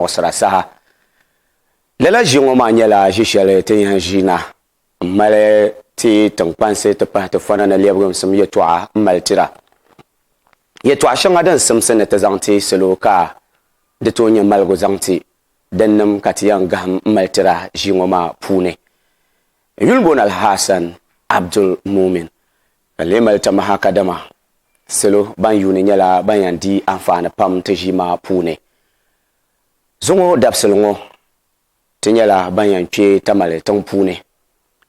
muɣisira saha. Lala ʒi ŋɔ maa nyɛla ʒi shɛli ti ni yɛn ʒi na m-mali ti tiŋkpansi ti pahi ti fɔna ni lɛbigimsim yɛtɔɣa m-mali tira. Yɛtɔɣa shɛŋa din simsi ni ti zaŋ ti salo ka di tooi nyɛ maligu zaŋ ti dinnim ka ti yɛn gahim m-mali tira ʒi ŋɔ maa puuni. Yulimbon Alhassan Abdul Mumin ka lee mali tamaha kadama salo ban yuuni nyɛla ban yɛn di anfaani pam ti ʒi maa puuni. Zuŋɔ dabisili ŋɔ ti nyɛla ban yɛn kpe Tamale tiŋ puuni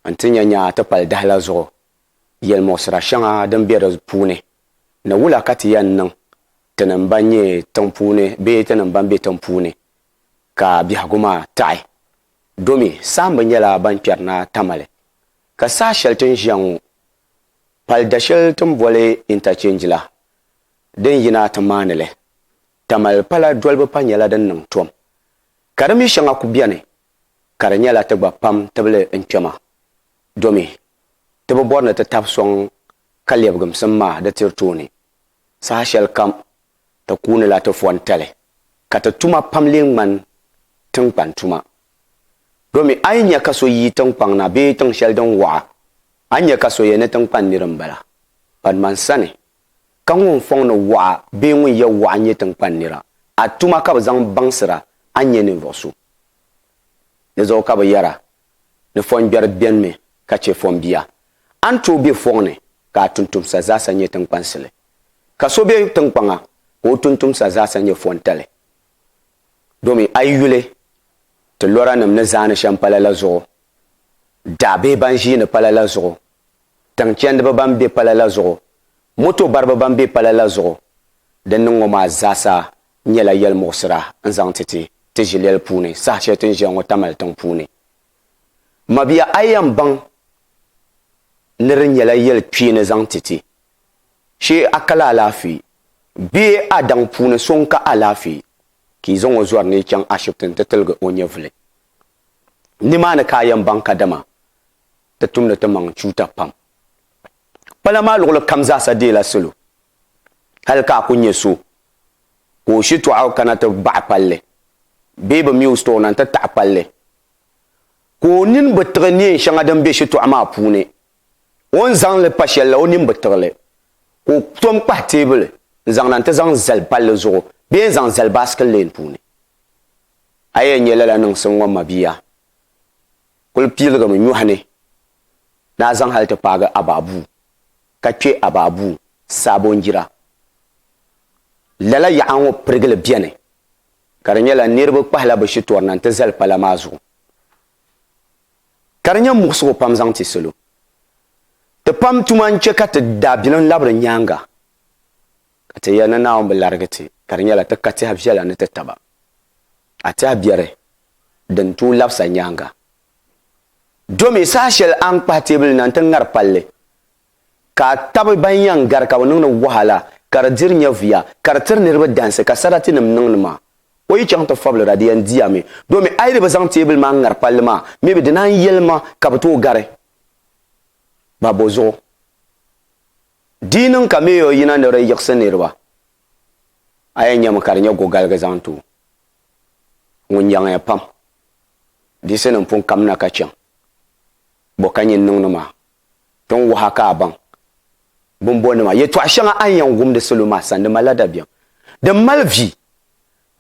n-ti nya nyaa ti pali dahi la zuɣu yɛlimuɣisira shɛŋa din be di puuni ni wula ka ti yɛn niŋ tinim ban nyɛ tiŋ puuni bee tinim ban be tiŋ puuni ka biɛhigu maa taɣi domi saamba nyɛla ban kpɛri na Tamale ka saha shɛli ti ni ʒiya ŋɔ pali dashɛli ti ni boli interchange la din yina ti maani li Tamale pala dolibu pa nyɛla din niŋ tom, ka di mi shɛŋa ku beni ka di nyɛla ti gba pam tibili n-kpɛma, domi ti bi bɔri ni ti tab sɔŋ ka lɛbigimsim maa di tiri tooni. Saha shɛli kam ti kuunila ti fɔntali ka ti tuma pam lee ŋmani tiŋkpan tuma. Domi a yi nya ka so yi tiŋkpaŋ na bee tiŋ shɛli din waɣa, a ni nya ka so yɛn ni tiŋkpan nir m-bala. Badman sani Ka ŋun fɔŋ ni waɣa bee ŋun yɛ waɣa nyɛ tiŋkpani nira, a tuma ka bɛ zaŋ baŋsir a, a ni nyɛ ninvuɣ so. Di zuɣu ka bɛ yɛr a, Ni fɔngbɛri benimi ka chɛ fɔnbia, a ni tooi be fɔŋ ni ka a tuntumsa zaasa nyɛ tiŋkpansili. Ka so be tiŋkpaŋa ka o tuntumsa zaasa nyɛ fɔntali. Domin a yi yuli, ti lɔranim ni zaani shɛm pala la zuɣu, daɣ bee ban ʒiini pala la zuɣu, tiŋ chɛndiba ban be pala la zuɣu, moto bariba ban be pala la zuɣu. Din niŋ ŋɔ maa zaasa nyɛla yɛlimuɣisira n-zaŋ ti ti ti ʒilɛli puuni saha shɛli ti ni ʒiya ŋɔ Tamale tiŋ puuni. Mabia a yɛn baŋ ni di nyɛla yɛli kpee ni zaŋ ti ti. Shee a kali alaafee bee a daŋ puuni so n-ka alaafee ka yi zaŋ o zɔri ni yi chaŋ ashibiti nti tiligi o nyɛvuli. Nimaani ka a yɛn baŋ kadama Ti tumdi ti maŋ tuuta pam. Pala maa luɣili kam zaasa deela salo. Hali ka a ku nya so ka o shitɔɣu kana ti baɣi palli bee bɛ mi o sitɔɔ na nti taɣi palli ka o nini bi tiɣi neen shɛŋa din be shitɔɣu maa puuni, o ni zaŋ li pa shɛli la o nini bi tiɣi li, ka o tom kpahi teebuli n-zaŋ na nti zaŋ zali palli zuɣu bee n-zaŋ zali baasiki leen puuni. A yɛn nya lala niŋsim ŋɔ mabia. kul piiligimi nyɔhi ni ni a zaŋ hal ti paagi a ba bua, ka kpe a ba bua saabo n-jir a. Lala yaɣa ŋɔ pirigili beni, ka di nyɛla niriba kpahila bɛ shitɔrina nti zali pala maa zuɣu. Ka di nyɛ muɣisigu pam zaŋ ti salo. Ti pam tuma n-chɛ ka ti daabilim labiri nyaaŋa, ka ti yɛli ni Naawuni bi larigi ti, ka di nyɛla ti ka tɛha viɛla ni ti taba. A ti a biɛri din tooi labis a nyaaŋa. Domi saha shɛli a ni kpahi teebuli na nti ŋari palli, ka a tabi ban yɛn gari ka bɛ niŋdi wahala ka di diri nyɛviya ka di tiri niriba dansi ka saratinim niŋdi maa, o yi chaŋ ti fabili ra di yɛn di a mi. Domi a yi di bi zaŋ teebuli maa ŋari palli maa mi bi di naan yɛli ma ka bɛ tooi gari ba bɔ zuɣu. Di niŋ ka Mayor yina ni di yiɣisi niriba, a yɛn nyami ka di nyɛ gogaligi zaŋ ti o, ŋun yaŋiya pam. Diɣisinim pun kamina ka chaŋ bɔ ka nyin niŋdi maa, ti ni waha ka a baŋ bimbɔnnima. Yɛtɔɣ shɛŋa a ni yɛn wumdi salo maa sani di malila dabiɛm din mali vi.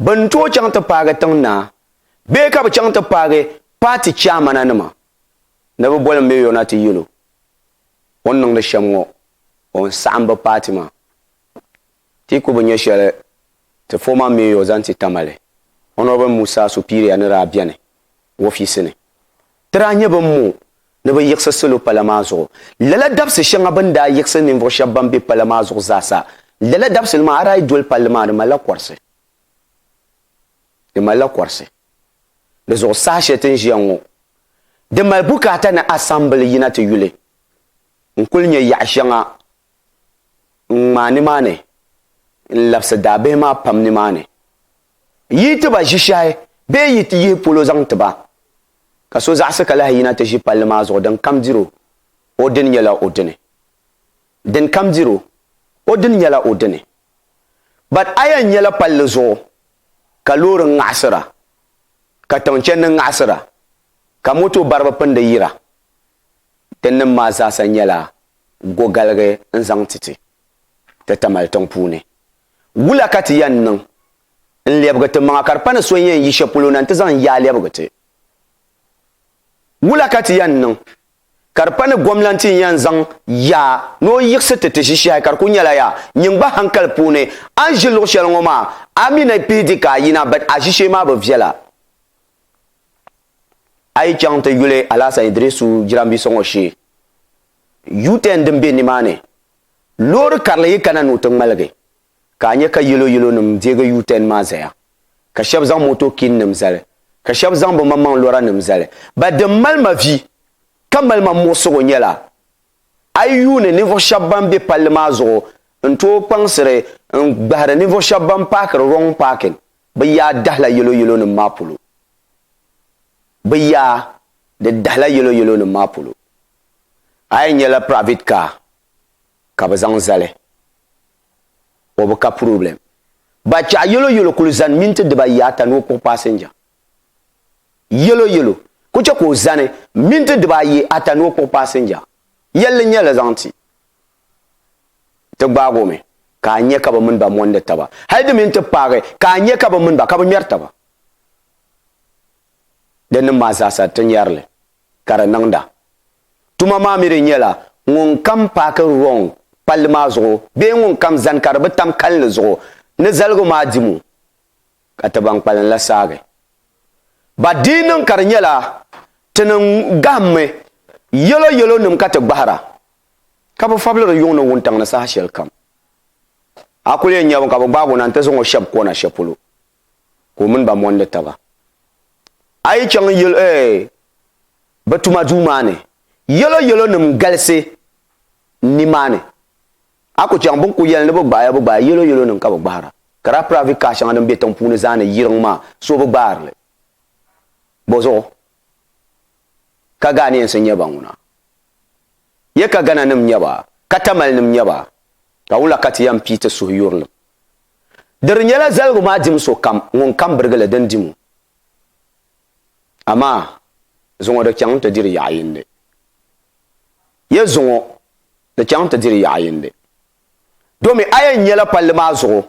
Bɛ ni tooi chaŋ ti paagi tiŋ naa bee ka bɛ chaŋ ti paagi paati chairmananima ni bɛ boli Mayor na ti yɛl o. o ni niŋdi shɛm ŋɔ o ni saɣim bɛ paati maa. Ti ku bi nya shɛli ti former mayor zaŋ ti Tamale, Honourable Musa Supiria ni daa beni o ofiisi ni. Ti daa nya bɛn mo ni bɛ yiɣisi salo pala maa zuɣu. Lala dabisi shɛŋa bɛ ni daa yiɣisi ninvuɣ shɛb bɛn be pala maa zuɣu zaasa, lala dabisili maa a daa yi doli palli maa di malila kɔrisi. Di malila kɔrisi. Di zuɣu saha shɛli ti ni ʒiya ŋɔ, di mali bukaata ni asambili yina ti yuli n-kul nya yaɣ shɛŋa n-ŋmaai nimaani n-labisi daabihi maa pam nimaani. Yi ti ba ʒishɛhi bee yi ti yihi polo zaŋ ti ba, ka so zaɣisi ka lahi yina ti ʒi palli maa zuɣu din kam dir o, o dini nyɛla o dini. Din kam dir o, o dini nyɛla o dini. But a yɛn nyɛla palli zuɣu ka loori ŋaɣisira, ka tiŋ chɛndi ŋaɣisira, ka moto bariba pindi yira. Ti nim maa zaasa nyɛla go galigi n zaŋ ti ti ti Tamale tiŋ puuni. Wula ka ti yɛn niŋ n lɛbigi ti maŋa ka di pa ni so n yɛn yi shɛli polo na nti zaŋ yaa lɛbigi ti? Wula ka ti yɛn niŋ? ka di pa ni gomlanti n-yan zaŋ yaa ni o yiɣisi ti ti ʒishehi ka di kuli nyɛla yaa nyin gba hankali puuni a ni ʒi luɣ'shɛli ŋɔ maa a mi ni pihi di ka a yina but a ʒishee maa bi viɛla. A yi chaŋ ti yuli Alahasan Idirisu jirambisa ŋɔ shee U-turn din be nimaani loori karili yi kana ni o ti ŋmaligi ka a nya ka yelo yelonim deegi U-turn maa zaya, ka shɛba zaŋ motokinnim zali, ka shɛba zaŋ bɛ maŋmaŋ lɔranim zali. Ba din mali ma vi, ka mali ma muɣisigu nyɛla, a yi yuuni ninvuɣ shɛba ban be palli maa zuɣu n-tooi kpaŋsiri n-gbahiri ninvuɣ shɛba ban paakiri wrong parking bɛ yaa dahila yelo yelonim maa polo. Bɛ yaa di dahila yelo yelonim maa polo. A yi nyɛla private car, ka bɛ zaŋ zali o bi ka puroblɛm. Ba chɛɣu Yɛloyɛlo kuli zani minti dibaayi ata ni o kpuɣi paasinja. Yɛloyɛlo ku chɛ ka o zani minti dibaayi ata ni o kpuɣi paasinja. Yɛlli n-nyɛ li zaŋ ti ti gbaag o mi ka a nya ka bɛ mini ba mondi taba. Hal di mi n-ti paagi ka a nya ka bɛ mini ba ka bɛ ŋmɛri taba. Di nim maa zaasa ti nyari li ka di niŋda. Tuma maa mi di nyɛla ŋun kam paaki wrong palli maa zuɣu bee ŋun kam zani ka di bi tam kalinli zuɣu ni zaligu maa dimu ka ti ban kpalim la saagi ba di yi niŋ ka di nyɛla ti ni gahimmi yɛlo yɛlo nim ka ti gbahira ka bi fabili di yuŋ ni wuntaŋ ni saha shɛli kam a kuli yɛn nyɛbu ka bi gbaag o na nti zaŋ o shɛb kona shɛpolo. ka o mini ba mondi taba. A yi chaŋ bɛ tuma duu maa ni, yɛlo yɛlonim galisi nimaani. A ku chaŋ bɛ ni ku yɛli ni bɛ gbahi ya bɛ gbahi ya, yɛlo yɛlonim ka bɛ gbahira. Ka daa piravi kaha shɛŋa din be tiŋ puuni zaa ni yiriŋ maa, so bi gbaari li bɔ zuɣu. Ka Ghanaians n-nyɛ ba ŋuna. Ye ka Ghana nim n-nyɛ ba, ka Tamale nim n-nyɛ ba, ka wula ka ti yɛn pii ti suhu yuri li? Diri nyɛla zaligu maa dim so kam ŋun kam birigi li din dim o. Amaa zuŋɔ di chaŋ nti diri yaɣ'yindi. Ye zuŋɔ di chaŋ nti diri yaɣ'yindi. Domi a yɛn nyɛla palli maa zuɣu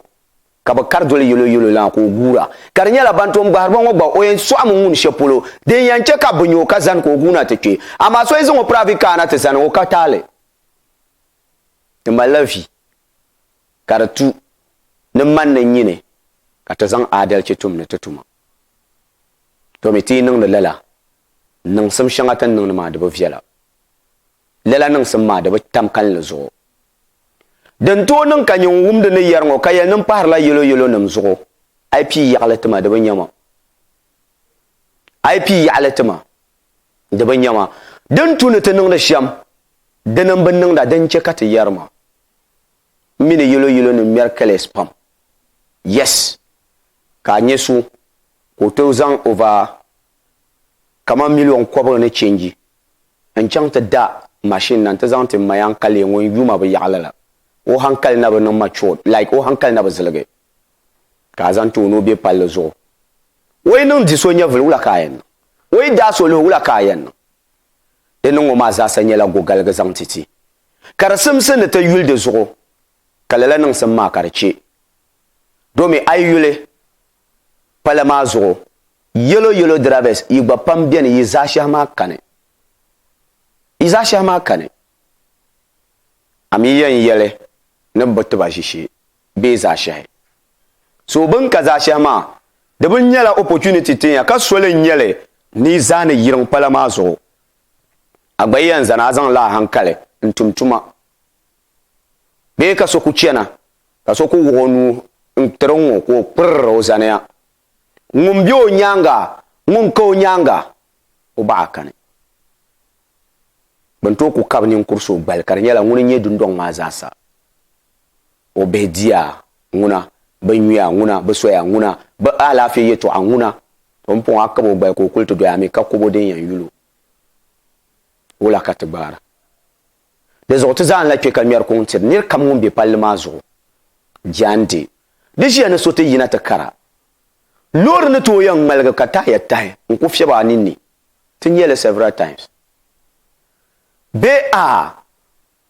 ka bɛ kari doli yɛlo yɛlo lana ka o guura. Ka di nyɛla ban tom gbahiriba ŋɔ gba o yɛn sɔɣimi ŋuni shɛli polo din yɛn chɛ ka bɛ nya o ka zani ka o guuna ti kpe. Amaa so yi zaŋ o piraavi kaana ti zani o ka taali ti malila vi ka di tu ni man ni nyini ka ti zaŋ aadalchi tum ni ti tuma. Domi ti yi niŋdi lala, niŋsim shɛŋa ti ni niŋdi maa di bi viɛla. Lala niŋsim maa di bi tam kalinli zuɣu. Din tooi niŋ ka nyɛ ŋun wumdi ni yɛri ŋɔ ka yɛli ni m pahirila yɛlo yɛlonim zuɣu, a yi pii yaɣili ti ma di bi nya ma. A yi pii yaɣili ti ma di bi nya ma. Di ni tu ni ti niŋdi shɛm dini m-bi niŋda di n-chɛ ka ti yɛri ma. M mi ni yɛlo yɛlonim ŋmɛri kaleesi pam. Yes! Ka a nya so ka o tooi zaŋ over kaman miliɔn kɔbigu ni change n chaŋ ti da machine na nti zaŋ ti ma ya n-kali ŋun yu ma bi yaɣili la, o hankali na bi niŋ matured, like o hankali na bi ziligi ka a zaŋ ti o ni o be palli zuɣu. O yi niŋ di so nyɛvili wula ka a yɛn niŋ? O yi daai so luhi wula ka a yɛn niŋ? Di niŋ ŋɔ maa zaasa nyɛla gogaligi zaŋ ti ti. Ka di simsi ni ti yuli di zuɣu ka lala niŋsim maa ka di che. Domi a yi yuli Pala maa zuɣu, yellow yellow drivers yi gba pam beni yi zaashɛhi maa kani. Yi zaashɛhi maa kani. A mi yɛn yɛli ni bɛ bi ti ba ʒishee bee zaashɛhi. So bɛ ni ka zaashɛhi maa, di bi nyɛla opportunity tin ya ka soli n-nyɛ li ni yi zaa ni yiriŋ pala maa zuɣu. A gba yɛn zani a zaŋ lahihankali n-tum tuma. Bee ka so ku chana, ka so ku wuɣ o nuu n-tir o ŋɔ ka o kpirr o zaniya. Ŋun be o nyaaŋa, ŋun ka o nyaaŋa, o baɣa kani. Bɛ ni tooi ku kab ninkur so gbali, ka di nyɛla ŋuni n-nyɛ dundɔŋ maa zaasa. O bihi diya, ŋuna, bɛ yuya, ŋuna, bɛ soya, ŋuna, bɛ alaafee yɛtɔɣa, ŋuna. O ni pɔŋ a kab o gbali ka o kuli ti doya mi, ka kɔbo din yɛn yul o, wula ka ti gbaara? Di zuɣu ti zaa n-lahi kpe ka ŋmɛri kuŋ tiri nir kam ŋun be palli maa zuɣu. Jaande, di ʒiya ni so ti yina ti kara. Loori ni tooi yɛn ŋmaligi ka taaya tahi n-ku fiɛbi a ninni. Ti nya li several times. Bee aah!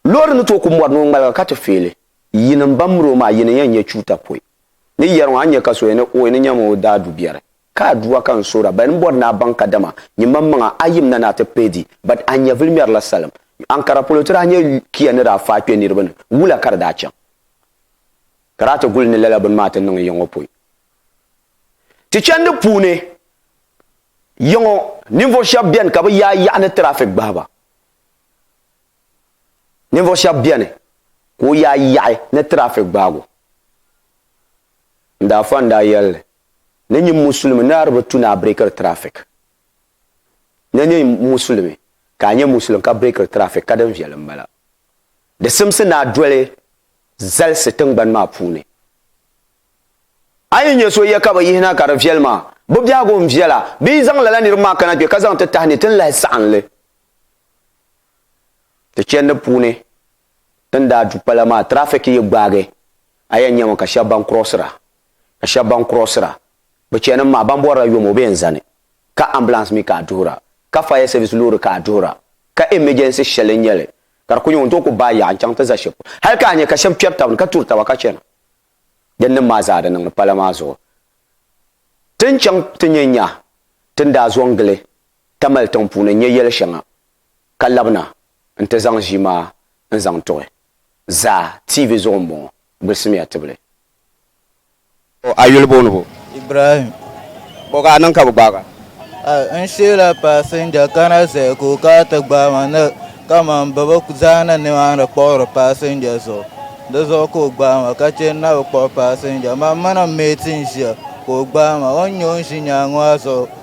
Loori ni tooi ku mɔri ni o ŋmaliga ka ti feeli. Yinim ban miri o maa, yinim yɛn nyɛ chuuta pɔi. Ni yɛri ŋɔ, a ni nya ka so yɛn ni ooy ni nyami o daa du biɛri. Ka Aduwa ka n soora, bal n bɔri ni a baŋ kadama nyimmaŋmaŋa a yim na ni a ti pee di, bat a nyɛvili mɛri la salim. Ankara polo ti daa nyɛ kia ni daa faai kpe niriba ni, wula ka di daa chaŋ? Ka daa ti guli ni lala bini maa ti niŋ yiŋɔ pɔi. Ti chandi puuni yiŋɔ, ninvuɣ shɛb beni ka bɛ yaai yaɣa ni tirafik gbahi ba. Ninvuɣ shɛb beni ka o yaai yaɣi ni tirafik gbaagu. N daa fa n daa yɛl li. Na nyɛ Musulimi ni a di bi tu ni a breakiri traffic. Na nyɛ Musulimi ka a nyɛ Musulimi ka breakiri traffic ka din viɛli m-bala. Di simsi ni a doli zalisi tiŋgbani maa puuni. A yi nyɛ so yɛ ka bɛ yihi na ka di viɛli maa, bɛ biɛhigu n-viɛla bɛ yi zaŋ lala niriba maa kana kpe ka zaŋ ti tahi ni ti ni lahi saɣim li ti chɛndi puuni. Ti ni daa du pala maa, traffic yi gbaagi a yɛn nyami ka shɛba ban crossira ka shɛba ban crossira. Bɛ chanim maa, ban bɔrila yom o bɛ yɛn zani. Ka ambulance mi ka a duhira, ka fire service loori ka a duhira, ka emergency shɛli n-nyɛ li ka di kuli nyɛ ŋun tooi kuli baai yaɣa n-chaŋ ti za shɛli polo. Hali ka a nya ka shɛba kpɛri taba ni ka turi taba ka chana. Din niŋ maa zaa di niŋdi pala maa zuɣu. Ti ni chaŋ ti nya nya ti ni daa zo n-gili Tamale tiŋ puuni n-nya yɛli shɛŋa ka labina n-ti zaŋ ʒii maa n-zaŋ tuɣi zaa TV zuɣu m-bɔŋɔ, gbulisimiya tibili. O, a yuli booni bo? Ibrahim. O, ka a niŋ ka bɛ gbaag a? A, n sheela paasinja kana zaya ka o kana ti gbaai ma ni kaman bɛ bi zaa ni nimaani kpuɣiri paasinja zuɣu. Di zuɣu ka o gbaai ma ka che n na bi kpuɣi paasinja. Mam mini m meeti n-ʒia ka o gbaai ma. O ni nya o ni ʒi nyaaŋa maa zuɣu.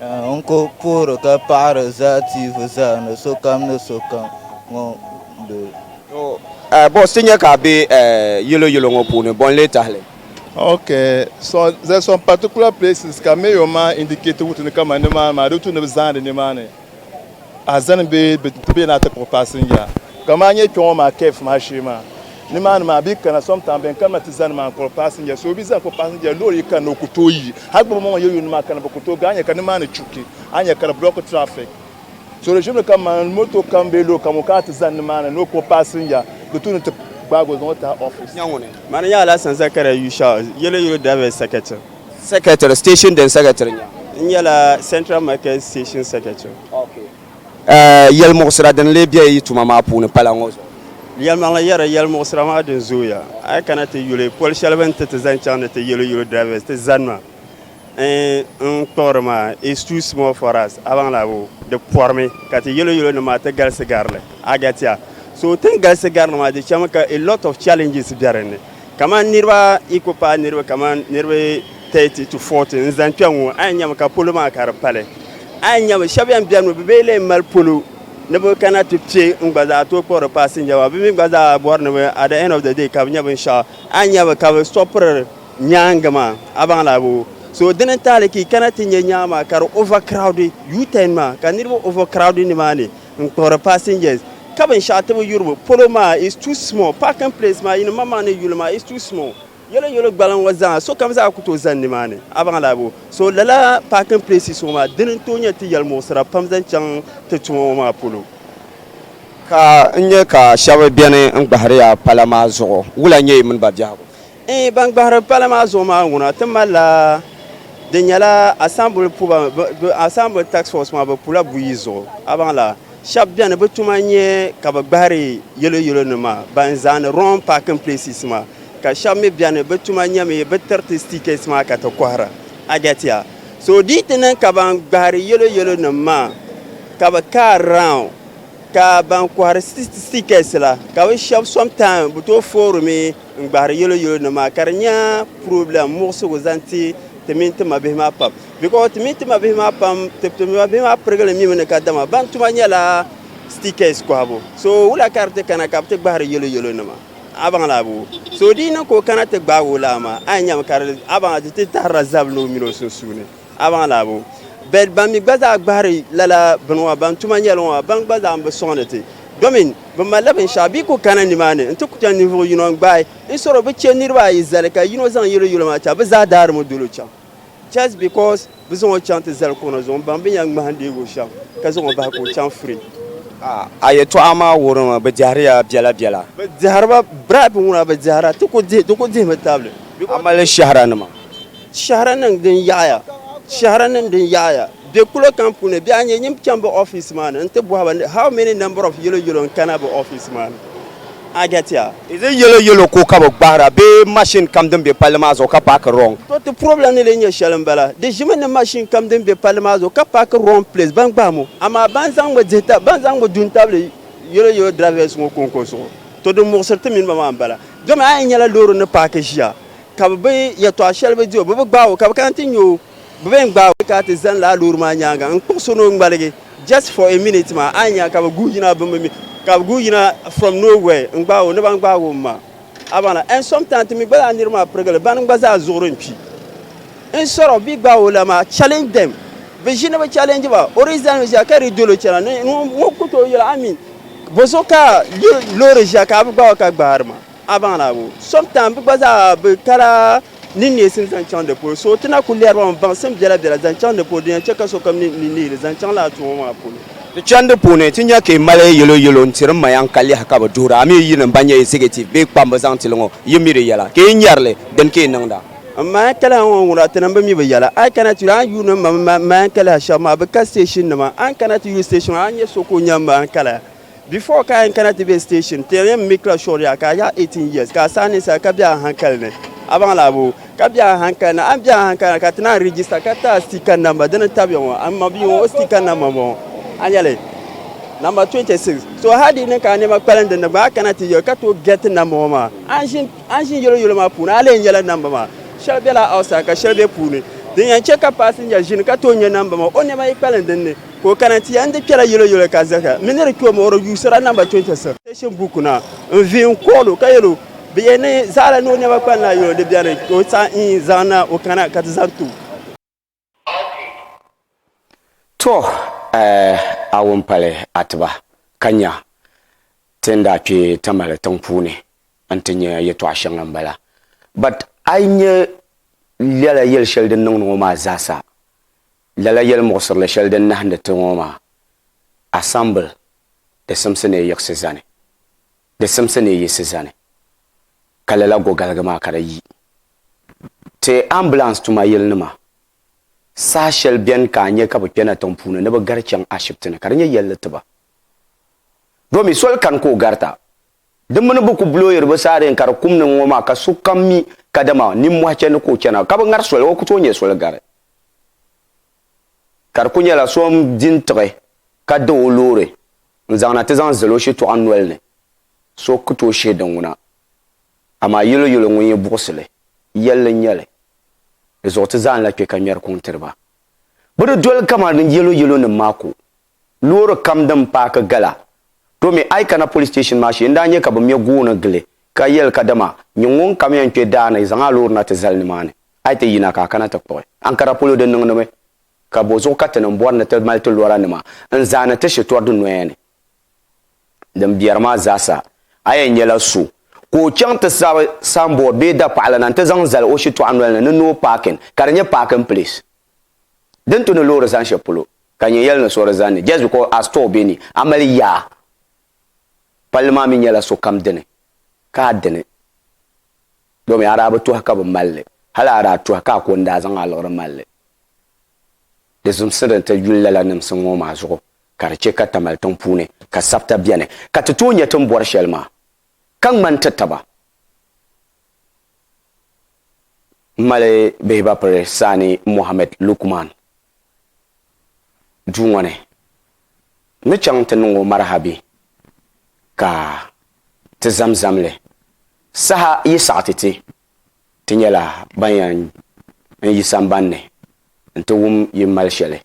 N ku puhiri ka paɣiri zaa tiivi zaa ni sokam ni sokam ŋun be. Bɔs ti nya ka a be yelo yelo ŋɔ puuni, bɔ n-lee tahili? Ok, there's some particular places ka mayor maa indicate wuhi ti ni kamani nimaani maa di wuhi ti ni bi zaani nimaani. A zani bɛ ti be na ti kpuɣi paasinja ka maa nyɛ kpeŋɔ maa kf maa shee maa. Nimaani maa bi kana sometimes bɛn kanima ti zani maa n kpuɣi paasinja so bi zani kpuɣi paasinja loori yi kanna o ku tooi yi hali gbubi ŋɔ ŋɔ yɛ yuuni maa kana bi ku tooi ga a nya ka nimaani chuki a nya ka di block traffic so di ʒibili kam maa motor kam bee loori kam ŋun kana ti zani nimaani ni o kpuɣi paasinja di tuuni ti gbaagi o zaŋ o tahi office. Nya ŋuni. Mani n-nyɛ Alasan Zakaria Yushau, Yellow Yellow Drivers Secretary. Secretary, station din secretary nya. N nyɛla Central Market Station Secretary. Okay. Uh, yɛlimuɣisira din lee bɛ yi tuma maa puuni pala ŋɔ zuɣu? Yɛlimaŋli yɛri yɛlimuɣisira maa din zooya. A yi kana ti yuli poli shɛli bɛ ni ti ti zaŋ chaŋ ni ti yelo yelo drivers ti zanima n n kpuɣiri maa is too small for us. A baŋ la bo? Di pɔrimi ka ti yelo yelo nim maa ti galisi gari li. A gati a? So ti ni galisi gari li maa di chami ka a lot of challenges bɛ din ni. Kamani niriba yi ku paai niriba kamani niriba 30 to 40 n zani kpɛŋ ŋɔ a yi nyɛmi ka polo maa ka di pali a yi nyɛmi shɛba yɛn bɛni mi bi bee lee mali polo ni bi kana ti kpɛ n gba zaa tooi kpuɣiri paasinja maa bi mi gba zaa bɔri ni bi at the end of the day ka bi nyɛ binshɛɣu a yi nyɛmi ka bi sɔpiri nyaangi maa a baŋ la boo so dini n taali ka yi kana ti nyɛ nyaangi maa ka di over crowded U-turn maa ka niriba over crowded ni maa ni n kpuɣiri passengers ka binshɛɣu tibu yuribu polo maa is too small parking place maa yini maŋmaŋ ni yuli maa is too small yolo yolo gbaliŋ ŋɔ zaa sokam zaa ku tooi zani nimaani a baŋ laa bo so lala parking places ŋɔ maa dini n tooi nyɛ ti yɛlimuɣisira pam zaŋ chaŋ ti tuma ŋɔ maa polo ka n nyɛ ka shɛba beni n gbahiriya pala maa zuɣu wula n-nyɛ yi mini ba biɛhigu. N-yi ban gbahiri pala maa zuɣu maa ŋuna, ti malila din nyɛla asambili puba, asambili task force maa bɛ pula buyi zuɣu. A baŋla, shɛba beni bɛ tuma n-nyɛ ka bɛ gbahiri yelo yelo nima ban zaani wrong parking places maa, ka shɛba mi beni bɛ tuma n-nyɛ mi bɛ tiriti stickets maa ka ti kɔhira. A gɛtiya? So di yi ti niŋ ka ban gbahiri yelo yelo nima maa ka bɛ car round ka ban kɔhiri stickets la ka bɛ shɛba sometime bɛ tooi foorimi, n gbahiri yelo yelo ni maa ka di nyɛ problem muɣisigu zaŋ ti ti mini ti ma bihi maa pam because ti mini ti ma bihi maa pam ti ti ma bihi maa pirigili mi mi ni ka dama ban tuma nyɛla stickers kɔhibu so wula ka di ti kana ka bi ti gbahiri yelo yelo nima a baŋ la abu so di yi niŋ ka o kana ti gbaagi o laa maa a yi nyami ka di a baŋ di ti tahirila zabili ni o mini o sunsuuni. Abaŋ laa bo? Bɛ ban mi gba zaa gbahiri lala bini ŋɔ ban tuma nyɛli ŋɔ, abaŋ gba zaa m-bi sɔŋdi ti, domin bɛ malila binshɛɣu bɛ yi ku kana nimaani nti ku chaŋ ninvuɣ yino n-gbaai n sɔri o, bɛ chɛ niriba ayi zali ka yino zaŋ yiri yolo maa chaŋ, bɛ zaa daarim o dol o chaŋ just because bɛ zaŋ o chaŋ ti zali kɔna zuɣu m-baŋ bɛ ni yɛn ŋmahindeeg o shɛm ka zaŋ o bahi ka o chaŋ free. A yɛtɔɣa maa wuhiri ma bɛ dɛhiri ya biɛla biɛla. Bɛ dɛhiri ba, bribe ŋuna bɛ dɛhira, ti ku dihi, di ku dihimi tabili. A mali shɛhira nima? Shɛhira niŋ din yaɣiya Shɛhira niŋ din yaɣiya Bɛ kulo kam puuni bɛ a nyɛ nyin chaŋ bɛ ofiisi maa ni n-ti bɔhi ba ni how many number of yellow yellow n-kana bɛ ofiisi maa ni? I get ya. Is it yellow yellow ko ka bɛ gbahira bee machine kam din be palli maa zuɣu ka paaki wrong? To ti problem ni lee nyɛ shɛli m-bala. Di ʒimi ni machine kam din be palli maa zuɣu ka paaki wrong place ban gbahi mo amaa ban zaŋmi dihi ta ban zaŋmi du n-tabili yellow yellow drivers ŋɔ kɔŋko zuɣu. To din muɣisiri ti mini ba maa m-bala. Domi a yɛn nyɛla loori ni paaki ʒiya ka bɛ bi yɛtɔɣ shɛli bi di o, bɛ bi gbaag o, ka bɛ kana ti nya o, bɛ bɛn gbaag o ka ti zani laa loori maa nyaaŋa n-kpuɣ so ni o ŋmaligi just for a minute maa, a ni nya ka bɛ guui yina bɛ mi, ka bɛ guui yina from no where n-gbaag o ni bɛn gbaag o m-ma a baŋ la. And sometimes ti mi gba zaa niriba maa pirigili bana gba zaa zuɣuri n-kpi. Instead of bɛ yi gbaag o la maa, challenge them, bɛ ʒi ni bɛ challenge ba, o di zani mi ʒiya ka di dol o chana ni ŋun ku tooi yɛl o, I mean, bɔso ka loori ʒiya ka a bi gbaag o ka gbaari ma? A baŋ la bo? Sometime bɛ gba zaa bɛ tara ni neesim zaŋ chaŋ di polo, so ti na kul lɛri ba mi baŋsim biɛla biɛla zaŋ chaŋ di polo din yɛn chɛ ka sokam ni ni neei li zaŋ chaŋ lala tuuma maa polo. Di chani di puuni ti nya ka yi mali yɛlo yɛlo n-tiri ma yaŋ ka lɛhi ka bɛ duhira a mi yi yinima ban nyɛ executive bee kpamba zaŋ ti li ŋɔ yi mi di yɛla ka yi nyari li din ka yi niŋda. M ma yaŋ kaliha ŋɔ n-wuhiri a ti namba mi bi yɛla. A yi kana ti yuli a ni yuuni m ma mini m ma yaŋ kaliha shɛba maa bɛ ka station nima. A ni kana ti yuli station maa a ni nya so ka o nya m ma yaŋ kaliha. Before ka a yɛn kana ti be station ti yɛn make la sure yaa ka a yaɣi 18 years ka a saai ninsali ka be a hankali ni a baŋ la boo ka be a hankali ni a ni be a hankali ni ka ti naan register ka ti a sticker number dini tabiya ŋɔ a ma bia ŋɔ o sticker number m-bɔŋɔ a nyɛli number 26 so hali di ni ka a nɛma kpalim din ni gba a kana ti yɛli ka tooi get number ŋɔ maa a ni ʒin a ni ʒin yɛlo yɛlo maa puuni a lee nyɛla number maa shɛli bela outside ka shɛli be puuni din yɛn che ka passenger ʒini ka tooi nya number maa o nɛma yi kpalim din ni Ka o kana ti ya n-di kpɛra yɛlo yɛlo ka zahira mi ni di kpe o muɣiri yuusira namba 26 Station Book na n-vihi n-kɔɣil o ka yɛl o, Bɛ yɛn ni zahira ni o nɛma kpa n-lahi yɛl o di beni ka o saɣi n zaŋ na o kana ka ti zaŋ ti o. Tɔ! A wum pali Atiba ka nya ti ni daa kpe Tamale tiŋ puuni n-ti nya yɛtɔɣ shɛŋa m-bala. But a yi nya lala yɛl shɛli din niŋdi ŋɔ maa zaasa, Lala yɛlimuɣisirili shɛli din nahindi ti ŋɔ maa, assemble, di simsi ni yiɣisi zani, di simsi ni yiɣisi zani, ka lala gogaligi maa ka di yi ti ambulance tuma yilinima saha shɛli beni ka a nya ka bɛ kpɛna tiŋ puuni ni bɛ gari chaŋ ashibiti ni ka di nyɛ yɛlli ti ba domi soli kani ka o garita. Di mini bɛ ku blooyiri bɛ saadeen ka di kum ni ŋɔ maa ka sokam mi kadama nimmɔhi chani ka o chana ka bɛ ŋari soli o ku tooi nyɛ soli gari. Ka di ku nyɛla so n-di n-tiɣi ka da o loori n-zaŋ na ti zaŋ zali o shitɔɣu noli ni, so ku tooi shihi di ŋuna. Amaa yuli yuli ŋun yi buɣisi li, yɛlli n-nyɛ li. Di zuɣu ti zaa ni lahi kpe ka ŋmɛri kuŋ tiri ba. Bɛ di doli kaman din yelo yelonim maa ku loori kam din paaki gala. To mi a yi kana police station maa shee n daa nya ka bɛ me gooni gili ka yɛli kadama nyin ŋun kam yɛn kpe daa ni zaŋ a loori na ti zali nimaani a yi ti yina ka a kana ti kpuɣi Ankara polo di niŋdimi ka bɔ zuɣu ka ti niŋ bɔri ni ti mali ti lora nima n zaani ti shitori di noya ni din biɛri maa zaasa a yɛn nyɛla so ka o chaŋ ti sabi sanboori bee dapaɣala na n ti zaŋ zali o shitɔɣu noli ni ni no parking ka di nyɛ parking place. Din tu ni loori zani shɛli polo, ka nyɛ yɛli ni sori zani ni, just because a store be ni, a mali yaa. Palli maa mi nyɛla sokam dini, ka a dini. Domi a daa bi tuhi ka bi mali li, hali a daa tuhi ka a ko n-daa zaŋ a liɣiri mali li. Di zimsi din ti yuli lala nimsim ŋɔ maa zuɣu ka di chɛ ka Tamale tiŋ puuni ka sabita beni, ka ti tooi nya ti ni bɔri shɛli maa, ka ŋmani ti taba. mali bihibapiri Sani Mohammed Lukman duu ŋɔ ni ni chaŋ ti niŋ o marahabi ka ti zamzam li saha yi saɣi ti ti ti nyɛla ban yan n yi sambanni n ti wum yi mali shɛli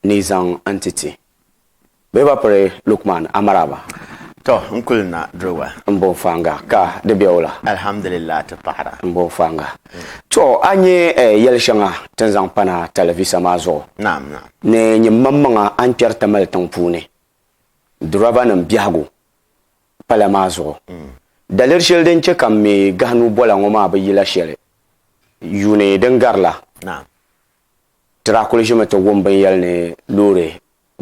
ni zaŋ n-ti ti. Bɛ ba piri Lukman Amaraba. Tɔ! N kuli na diriba. M bo Fanga, ka di be o la. Alhamdulillah ti paɣira. M bo Fanga. Tɔ! A nya yɛl shɛŋa ti ni zaŋ pana talivisa maa zuɣu. Naam, naam. Ni nyini maŋmaŋa a ni kpɛri Tamale tiŋ puuni, durɔbanim biɛhigu pala maa zuɣu. Daliri shɛli din chɛ ka m mi gahinuu bola ŋɔ maa bi yila shɛli yuuni din gari la. Naam. Ti daa kuli ʒimi ti wum binyɛli ni loori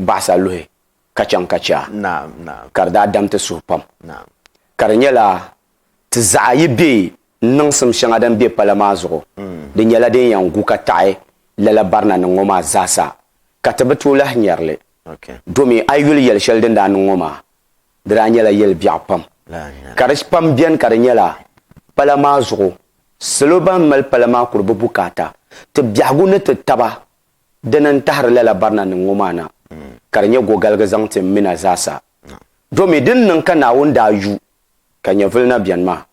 baɣasa luhi ka chaŋ ka chɛ a, ka di daa dam ti suhu pam. Ka di nyɛla ti zaɣa yi be niŋsim shɛŋa din be pala maa zuɣu, di nyɛla din yɛn gu ka taɣi lala barina niŋ ŋɔ maa zaasa, ka ti bi tooi lahi nyari li. Domi a yi yuli yɛli shɛli din daa niŋ ŋɔ maa, di daa nyɛla yɛli biɛɣu pam. Ka di pam beni ka di nyɛla pala maa zuɣu salo ban mali pala maa kuri bi bukaata ti biɛhigu ni ti taba dini n tahiri lala barina nim ŋɔ maa na ka di nyɛ gogaligi zaŋ ti m mina zaasa. Domi dini niŋ ka Naawuni daa yu ka nyɛvili na beni maa?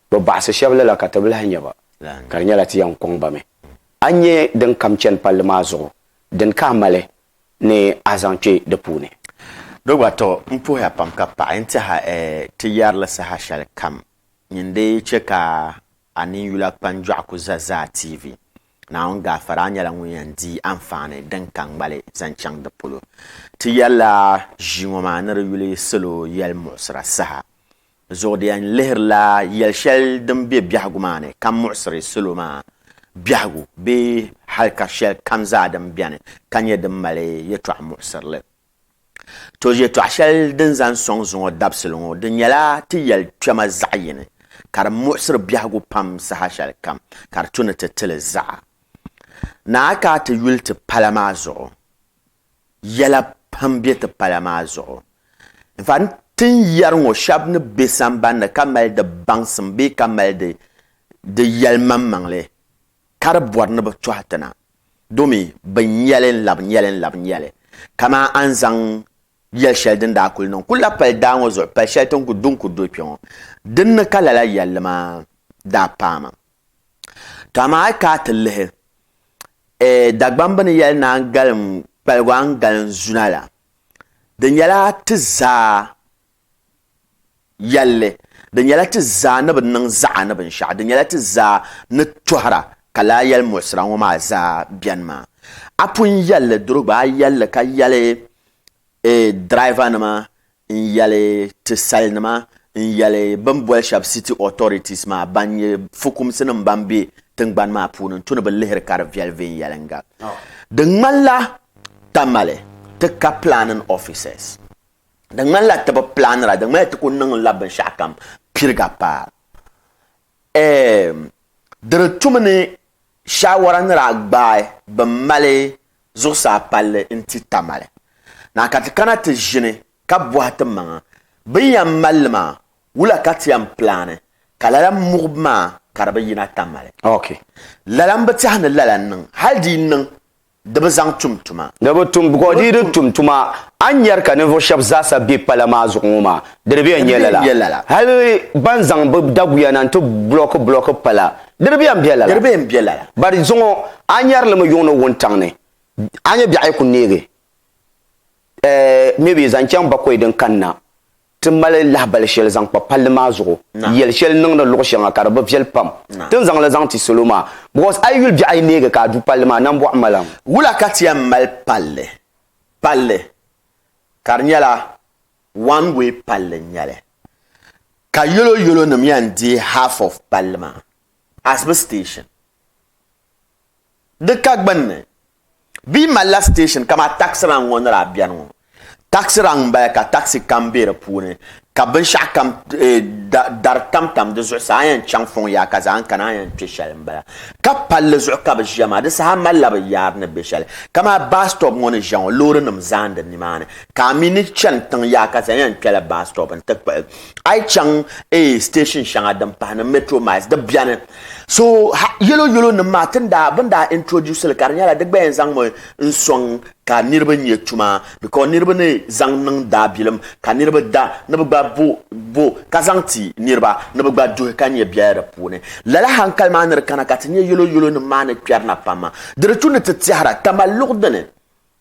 Bi baɣisi shɛba lala ka tibilahi nyɛ ba ka di nyɛla ti yɛn kɔŋ ba mi. A nyɛ din kam chani palli maa zuɣu dini ka a mali ni a zaŋ kpe di puuni. Do gba, tɔ! M puhiya pam ka paɣi n tɛha ɛɛh ti yɛrili saha shɛli kam nyin di chɛ ka a ninyula kpanjɔɣu ku za zaa tiivi. Naawuni gaafara, a nyɛla ŋun yɛn dii anfaani din ka ŋmali zaŋ chaŋ di polo. Ti yɛrila ʒii ŋɔ maa ni di yuli salo yɛlimuɣisira saha Zuɣu di yɛn lihirila yɛli shɛli din be biɛhigu maa ni ka muɣisiri salo maa biɛhigu bee halika shɛli kam zaa din beni ka nyɛ din mali yɛtɔɣ muɣisirili. To yɛtɔɣ shɛli din zaŋ sɔŋ zuŋɔ dabisili ŋɔ di nyɛla ti yɛli kpɛma zaɣ yini ka di muɣisiri biɛhigu pam saha shɛli kam ka di tu ni ti ti li zaɣa. Naa ka a ti yuli ti pala maa zuɣu. Yɛla pam be ti pala maa zuɣu. In fact, tin yɛri ŋɔ shɛb ni be samban ni ka mali di baŋsim bee ka mali di di yɛlimaŋmaŋli ka di bɔri ni bɛ tɔhi ti na domi bɛ nya li n-labi nya li n-labi nya li. Kaman a ni zaŋ yɛl shɛli din daa kuli niŋ kul la pali daa ŋɔ zuɣu pal shɛli ti ni ku du n-ku dol kpe ŋɔ. Din ni ka lala yɛlli maa daa paai ma. To amaa a yi kana ti lihi Dagbamb bɛ ni yɛli naan galim kpaligu a ni galim zuna la, di nyɛla ti zaa yɛlli, di nyɛla ti zaa ni bi niŋ zaɣa ni binshɛɣu, di nyɛla ti zaa ni tɔhira ka lala yɛli muɣisira ŋɔ maa zaa beni maa. A pun yɛlli duri gba a yɛlli ka yɛli Driver nima n yɛli ti sali nima n yɛli bini boli shɛba city authorities maa ban nyɛ fukumsi nima ban bɛ tingbani maa puuni n tu ni bi lihiri ka di viɛli viɛnyɛlinga di ŋmani la Tamale ti ka planning officers di ŋmani la ti bi planira di ŋmani la ti ku niŋ la binshɛɣu kam piriga paai. Di di tumi ni shaawara ni daa gbaai bin mali zuɣusaa palli n-ti Tamale na ka ti kana ti ʒini ka bɔhi ti maŋa bɛ yɛn mali li maa wula ka ti yɛn pilaani ka lala muɣibu maa ka di bi yina Tamale. Lala m-bi tɛha ni lala n-niŋ hali di yi niŋ di bi zaŋ tum tuma. Di bi tum because di yi di tum tuma a ni nyari ka ninvuɣu shɛba zaasa be pala maa zuɣu ŋɔ maa di di bi yɛn nyɛ lala. Hali ban zaŋ bɛ daguya na n-ti block block pala di di bi yɛn be lala. But zuŋɔ a ni nyari li mi yuŋ ni wuntaŋ ni a nya biɛɣu yi ku neegi eh maybe zaŋ chaŋ bakɔi din kani na Ti mali lahibali shɛli zaŋ kpa palli maa zuɣu yɛli shɛli niŋdi luɣ shɛŋa ka di bi viɛli pam ti ni zaŋ li zaŋ ti salo maa because a yi yuli biɛɣu ayi neegi ka a du palli maa nambɔɣu malam. Wula ka ti yɛn mali palli? Palli ka di nyɛla one way palli n-nyɛli ka yolo yolonim yɛn deei half of palli maa as bɛ station. Di ka gbunni, bɛ yi malila station kamaa taxi rank ŋɔ ni daa beni ŋɔ, taxi rank m-bala ka taxi kam be di puuni ka binshɛɣukam dari tamtam di zuɣusaa a yɛn chaŋ fɔŋ yaɣa ka zaɣa kana a yɛn kpe shɛli m-bala. Ka palli zuɣu ka bɛ ʒia maa, di saha malila bɛ yaari ni be shɛli. Kamaa bus stop ŋɔ ni ʒia ŋɔ loorinima zaandi nimaani ka a mi ni chani tiŋ yaɣa ka zaŋ yɛn kpɛla bus stop nti kpuɣi. a yi chaŋ ee station shɛŋa din pahi ni metro miles di biɛni so yɛlo yɛlo nim maa tin daa bin daa introduce li ka di nyɛla di gba yɛn zaŋmi n sɔŋ ka niriba nyɛ tuma because niriba ni zaŋ niŋ daabilim ka niriba da ni bi gba bo bo ka zaŋ ti niriba ni bi gba duhi ka nyɛ biɛla di puuni lala hankali maa ni di kana ka ti nyɛ yɛlo yɛlo nim maa ni kpɛrina pam di di tu ni ti tɛhira tamalluɣu dini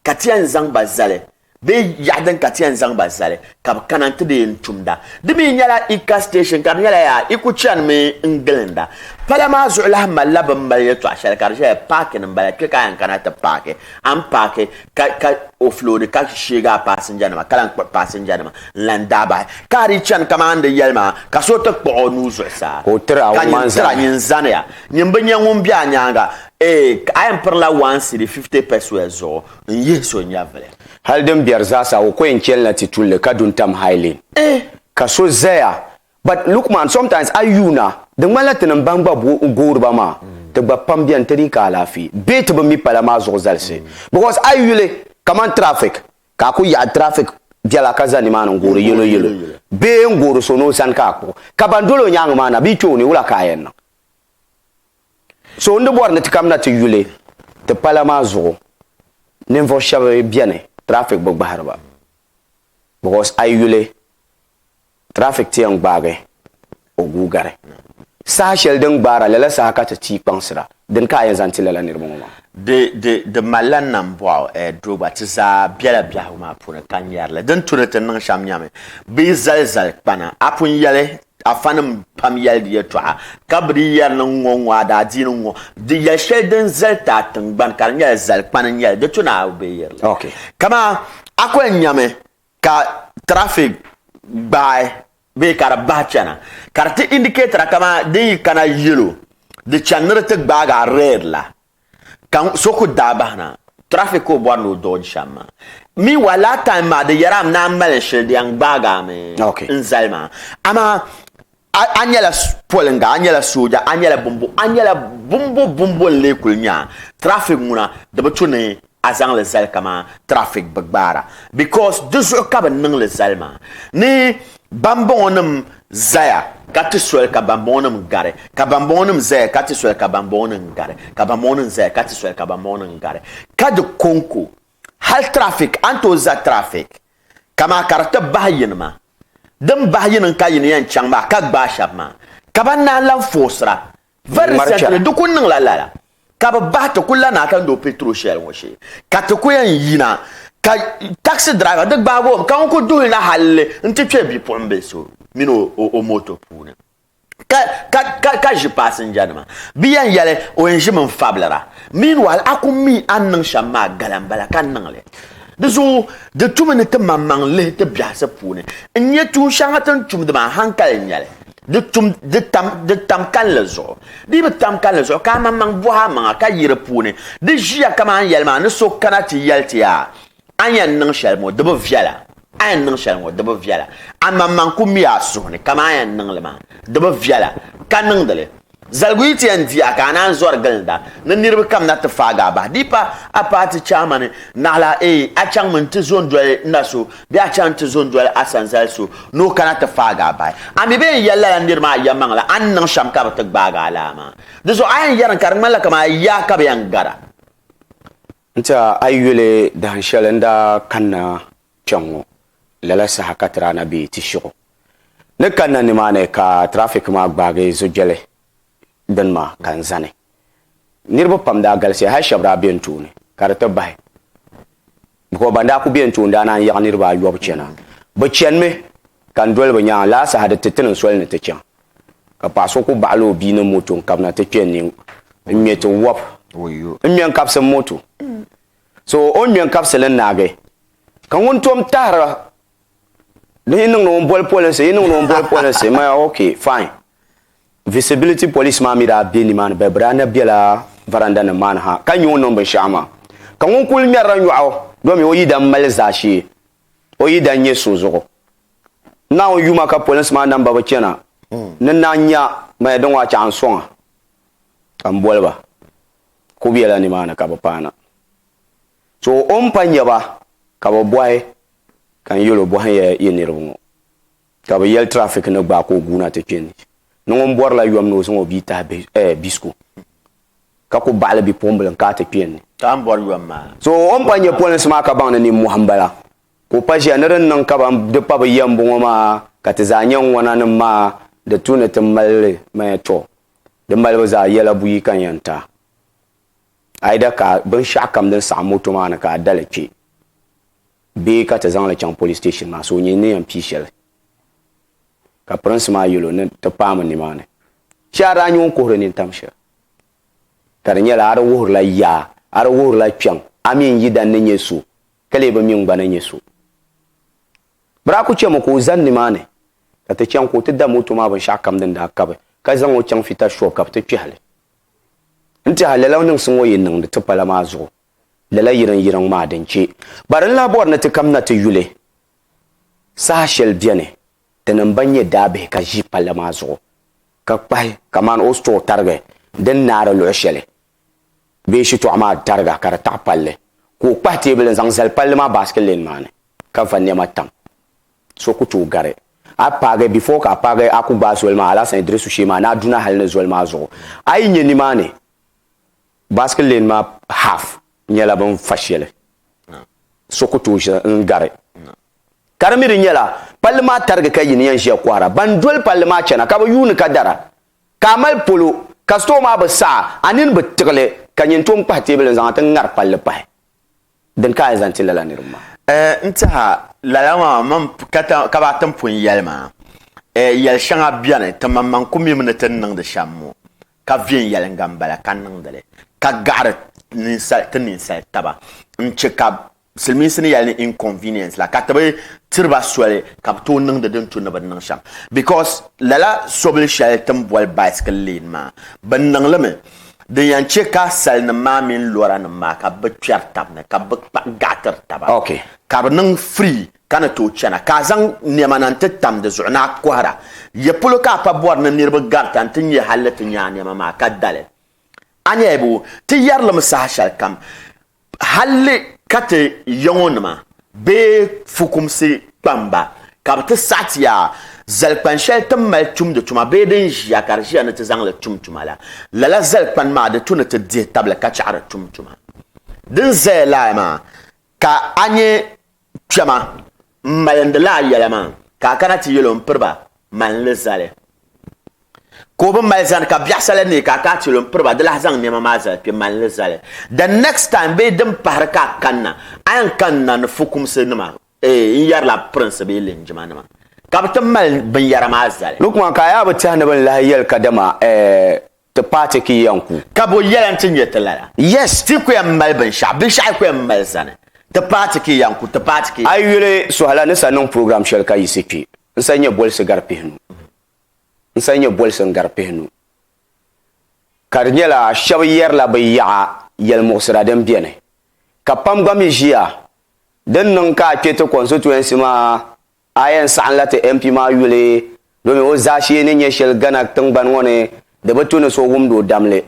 Ka ti yɛn zaŋ ba zali, bee yaɣa din ka ti yɛn zaŋ ba zali, ka bɛ kana nti di yɛn tumda. Di mi nyɛla Ika station ka di nyɛla yaa Iku chanimi n-gilinda. Pala maa zuɣu lahi malila bɛ ni mali yɛltɔɣ shɛli ka di ʒiya paakin m-bala, kpe ka a yɛn kana ti paaki, a ni paaki ka ka ofiloodi ka sheegi a paasinjanima ka lan kpuɣi paasinjanima n-lan daa bahi. Ka a dii chani kaman n di yɛli maa, ka so ti kpuɣ o nuu zuɣusaa, ka nyin tira nyin zaniya, nyin bi nya ŋun be a nyaaŋa. Ee, a yɛn pirila one cedi fifty pɛsoya zuɣu n-yihi so nyɛvili. Hali din biɛri zaasa o ko yɛn chɛli na ti tulli ka du n-tam Hailin. Eh, ka so zaya. But look man, sometimes a yuuna, di ŋmanila ti ni m-baŋ gba goori ba maa, ti gba pam beni ti dii ka alaafee, bee ti bi mi pala maa zuɣu zalisi. Because a yi yuli kamani traffic, ka a ku yaɣi traffic biɛla ka za nimaani n-goori yɛlo yɛlo, bee n-goori so ni o sani ka a kpuɣi, ka ban doli o nyaaŋa maa na bi yi kpe o ni, wula ka a yɛn niŋ? So n di bɔri ni ti kamina ti yuli ti pala maa zuɣu ninvuɣu shɛba bɛni traffic bi gbahiri ba because a yi yuli traffic ti yɛn gbaagi o guui gari saha shɛli din gbaara lala saha ka ti tii kpaŋsira dini ka a yɛn zaŋ ti lala niriba ŋɔ maa. Di di di mali la nambɔɣu eh doo gba ti zaa bɛla biɛhigu maa puuni ka ŋmɛri li din tu ni ti niŋ shɛm nyami bɛ yi zali zali kpana a pun yɛli Afanim pam yɛli di yɛtɔɣa, ka bɛ di yɛri niŋ ŋɔ ŋɔ adaadiini ŋɔ di yɛli shɛli din zali ti a tiŋgbani ka di nyɛla zalikpani n-nyɛ li, di tu ni a be yɛri li. Okay. Kaman a kuli nyami ka traffic gbaai bee ka di bahi chana ka di ti indicator a kaman din yi kana yellow di chani ni di ti gbaagi a red la. Ka so ku daa bahi na, traffic ka o bɔri ni o dodge shɛm maa. Meanwhile, last time maa di yɛra m naan mali shili di yɛn gbaagi a mi n zali maa. Amaa a nyɛla poliŋga, a nyɛla sooja, a nyɛla bimbo, a nyɛla bimbo bimbo n-lee kuli nya traffic ŋuna di bi tu ni a zaŋ li zali kaman traffic bi gbaara because di zuɣu ka bi niŋ li zali maa ni bambɔŋɔ nim zaya ka ti soli ka bambɔŋɔ nim gari ka bambɔŋɔ nim zaya ka ti soli ka bambɔŋɔ nim gari ka bambɔŋɔ nim zaya ka ti soli ka bambɔŋɔ nim gari ka di konko hali traffic an tooi za traffic kamaa ka di ti bahi yini maa din bahi yini ka yini yɛn chaŋ maa ka gbaai shɛba maa ka ban naan lan foosira Very recently, di ku niŋla lala ka bi bahi ti ku lana ka lo petrol shell ŋɔ shee ka ti ku yɛn yina ka taxi driver di gbaagi o mi ka ŋun ku duhi na halli n ti kpɛ bipuɣimbil so mini o moto puuni ka ʒi passenger nima bi yɛn yɛli o yɛn ʒimi n fabilira meanwhile a ku mi a ni niŋ shɛm maa gala n bala ka niŋli di zuɣu di tumi ni ti maŋmaŋ lihi ti biɛhisi puuni n nyɛ tuun shɛŋa ti ni tumdi maa hankali n nyɛli Di tum, di tam, di tam kalinli zuɣu. Di bi tam kalinli zuɣu ka amaŋmaŋ bɔhi amaŋa ka yi di puuni. Di ʒiya kaman yɛli maa ni so kana ti yɛli ti yaa, a ni yɛn niŋ shɛli ŋɔ di bi viɛla, a yɛn niŋ shɛli ŋɔ di bi viɛla. Amaŋmaŋ ku mi a suhu ni kaman a yɛn niŋ li maa di bi viɛla, ka niŋdi li. Zaliguyitia n-di a ka a naan zɔri gilinda ni niriba kam na ti faagi a bahi. Di pa a paati chaamani naɣila eei a chaŋmi nti zo n-doli n na so bee a chaŋ nti zo n-doli a sanzali so ni o kana ti faagi a bahi. A mi bee n-yɛli lala nir maa yɛlimaŋli a ni niŋ shɛm ka bɛ ti gbaagi a laa maa. Di zuɣu a yɛn yɛri ni ka di ŋmanila kaman a yaa ka bɛ yɛn gar a. N-ti a a yi yuli dahin shɛli n daa kanna kpɛŋŋo, lala saha ka ti daa na be Tishigu. Ni kanna nimaani ka tirafik maa gbaagi zo'biɛli bini maa ka n zani. Niriba pam daa galisiya, hali shɛba daa be n tooni ka di ti bahi because ban daa kuli be n tooni daa naan yaɣi niriba ayɔbu chana. Bɛ chanimi ka n doli bɛ nyaaŋa. Lala saha di ti ti ni n soli ni ti chaŋ ka paɣa so kuli baɣila o bia ni moto n-kabina ti kpe ni n ŋme ti wɔbi. N ŋme n-kabisi moto. So o ni ŋmɛn kabisili n-naagi. Ka ŋun tom tahira di yi niŋdi ŋun boli polinsi yi niŋdi ŋun boli polinsi maya ok fine visibility police maa mi daa be nimaani bɛ daa na bela varanda nim maa ni ha ka nya o niŋ binshɛɣu maa ka ŋun kuli ŋmɛrila nyɔɣu domi o yidana mali zaashee o yidana nyɛ so zuɣu Naawuni yuma ka polinsi maa namba bi chana ni naan nya maya din ŋɔ a chaɣa n soŋa ka m boli ba ku bela nimaani ka bi paana. To o ni pa nya ba ka bi bɔhi, Ka n yɛl o bɔhim ya yi niriba ŋɔ? Ka bɛ yɛli, Traffic ni gbaai ka o guuna ti kpe ni. Ni ŋun bɔrila yom ni o zaŋ o bia tahi bisiko ka ku baɣili bipuɣimbila n-kaai ti kpe ni. Ka a ni bɔri yom maa? To o ni pa nya polinsi maa ka baŋ ni nimmɔhi m-bala ka o pa ʒiya ni di ni niŋ ka ban di pa bɛ ya m-bɔŋɔ maa ka ti zaa nya ŋɔnanim maa di tu ni ti mali li maya tɔ. Di malibu zaa yɛla buyi ka n yɛn ti a. Aida ka binshɛɣu kam din saɣim moto maa ni ka a dali kpe bee ka ti zaŋ li chaŋ police station maa so nyini ni yɛn pii shɛli. Ka pirinsi maa yɛl o ni ti paami nimaani shee a daa nya o ni kuhiri nini tam shɛli. Ka di nyɛla a di wuhirila yaa a di wuhirila kpiɛŋ a mi n-yidani ni nyɛ so ka lee bi mi n-gba ni nyɛ so. Biraku chɛmi ka o zani nimaani. ka ti chaŋ ka o ti da moto maa binshɛɣu kam din daa kabi ka zaŋ o chaŋ Fita Shop ka bɛ ti kpɛhi li. N tɛha lala niŋsi ŋɔ yi niŋdi ti pala maa zuɣu lala yiriŋ yiriŋ maa din chɛ. Bari n lahi bɔri ni ti kamina ti yuli saha shɛli beni di ni m-ba nyɛ daabihi ka ʒi palli maa zuɣu ka kpahi kamani o store tarigi din naari luɣ shɛli bee shitɔɣu maa tariga ka di taɣi palli ka o kpahi teebuli n-zaŋ zali palli maa basket lane maa ni ka va nɛma tam. So ku tooi gari a paagi before ka a paagi a ku gbaai zoli maa Alasan Idrisu shee maa ni a duna hali ni zoli maa zuɣu. A yi nya nimaani basket lane maa half nyɛla bɛ ni fa shɛli so ku tooi ʒi n-gari. Ka di mi di nyɛla palli maa tarigi ka yi ni yɛn ʒiya kɔhira ban doli palli maa chana ka bɛ yuuni ka dara ka a mali polo ka store maa bi saɣi a nini bi tiɣili ka nyin tom kpahi teebuli n-zaŋ a ti ŋari palli pahi. Dini ka a yi zaŋ ti lala niriba maa? N tɛha, lala maa mini kaba ti ni pun yɛli maa, yɛl shɛŋa beni ti maŋmaŋ ku mim ni ti ni niŋdi shɛm ŋɔ, ka viɛnyɛliŋga m-bala ka niŋdi li, ka gahiri ti ninsal taba n-chɛ ka silimiinsi ni yɛli ni inconvenience la, ka ti bi tiri ba soli ka bɛ tooi niŋdi din tu ni bɛ ni niŋ shɛm because lala sobili shɛli ti ni boli bicycle lane maa, bɛ niŋ li mi Din yan che ka salinim maa mini loranim maa ka bɛ kpɛri tab ni ka bɛ kpa gaɣitiri taba ka bɛ niŋ free ka ni tooi chana ka a zaŋ nɛma na nti tam di zuɣu ni a kɔhira. Yɛ polo ka a pa bɔri ni niriba garita nti nya hal ni ti nya a nɛma maa ka dali? Anyaayibo, ti yɛri limi saha shɛlikam. Halli ka ti yaŋɔnima bee fukumsi kpamba ka bɛ ti saɣiti ya zalikpan shɛli ti ni mali tumdi tuma bee din ʒiya ka di ʒiya ni ti zaŋ li tum tuma la, lala zalikpan maa di tu ni ti dihi tabili ka chaɣiri tum tuma din zaya lahi maa ka a nya Kpɛma, m malindi la a yɛla maa, ka a kana ti yɛl o m-piri ba, mali n li zali. Ka o bi mali zani, ka biɛɣisala neei ka a kana ti yɛl o m-piri ba, di lahi zaŋ nɛma maa zali kpe, mali n li zali. The next time bee din pahiri ka a kanna, a yɛn kanna ni fukumsinima, eei, n yɛrila pirinsi bee linjimanima, ka bɛ ti mali binyɛra maa zali. Di kuma ka a yaa bi tɛhi ni bɛ ni lahi yɛli kadama, eei, Ti paai ti ki yɛn ku. Ka bo yɛla nti nyɛ ti lala? Yes, ti ku yɛn mali binshɛɣu. Binshɛɣu yi ku yɛn mali zani, ti paai ti ki yɛn ku, ti paai ti ki. A yi yuli Sohala ni sa niŋ program shɛli ka yiɣisi kpe, n sa nyɛ bolisi gari pihinu. N sa nyɛ bolisi n-gari pihinu. Ka di nyɛla shɛba yɛrila bɛ yaɣa yɛlimuɣisira din beni, ka pam gba mi ʒiya din niŋ ka a kpe ti constituency maa A yɛn saɣinla ti MP maa yuli domin o zaashee ni nyɛ shɛli Ghana tiŋgbani ŋɔ ni di bi tu ni so wumdi o damli.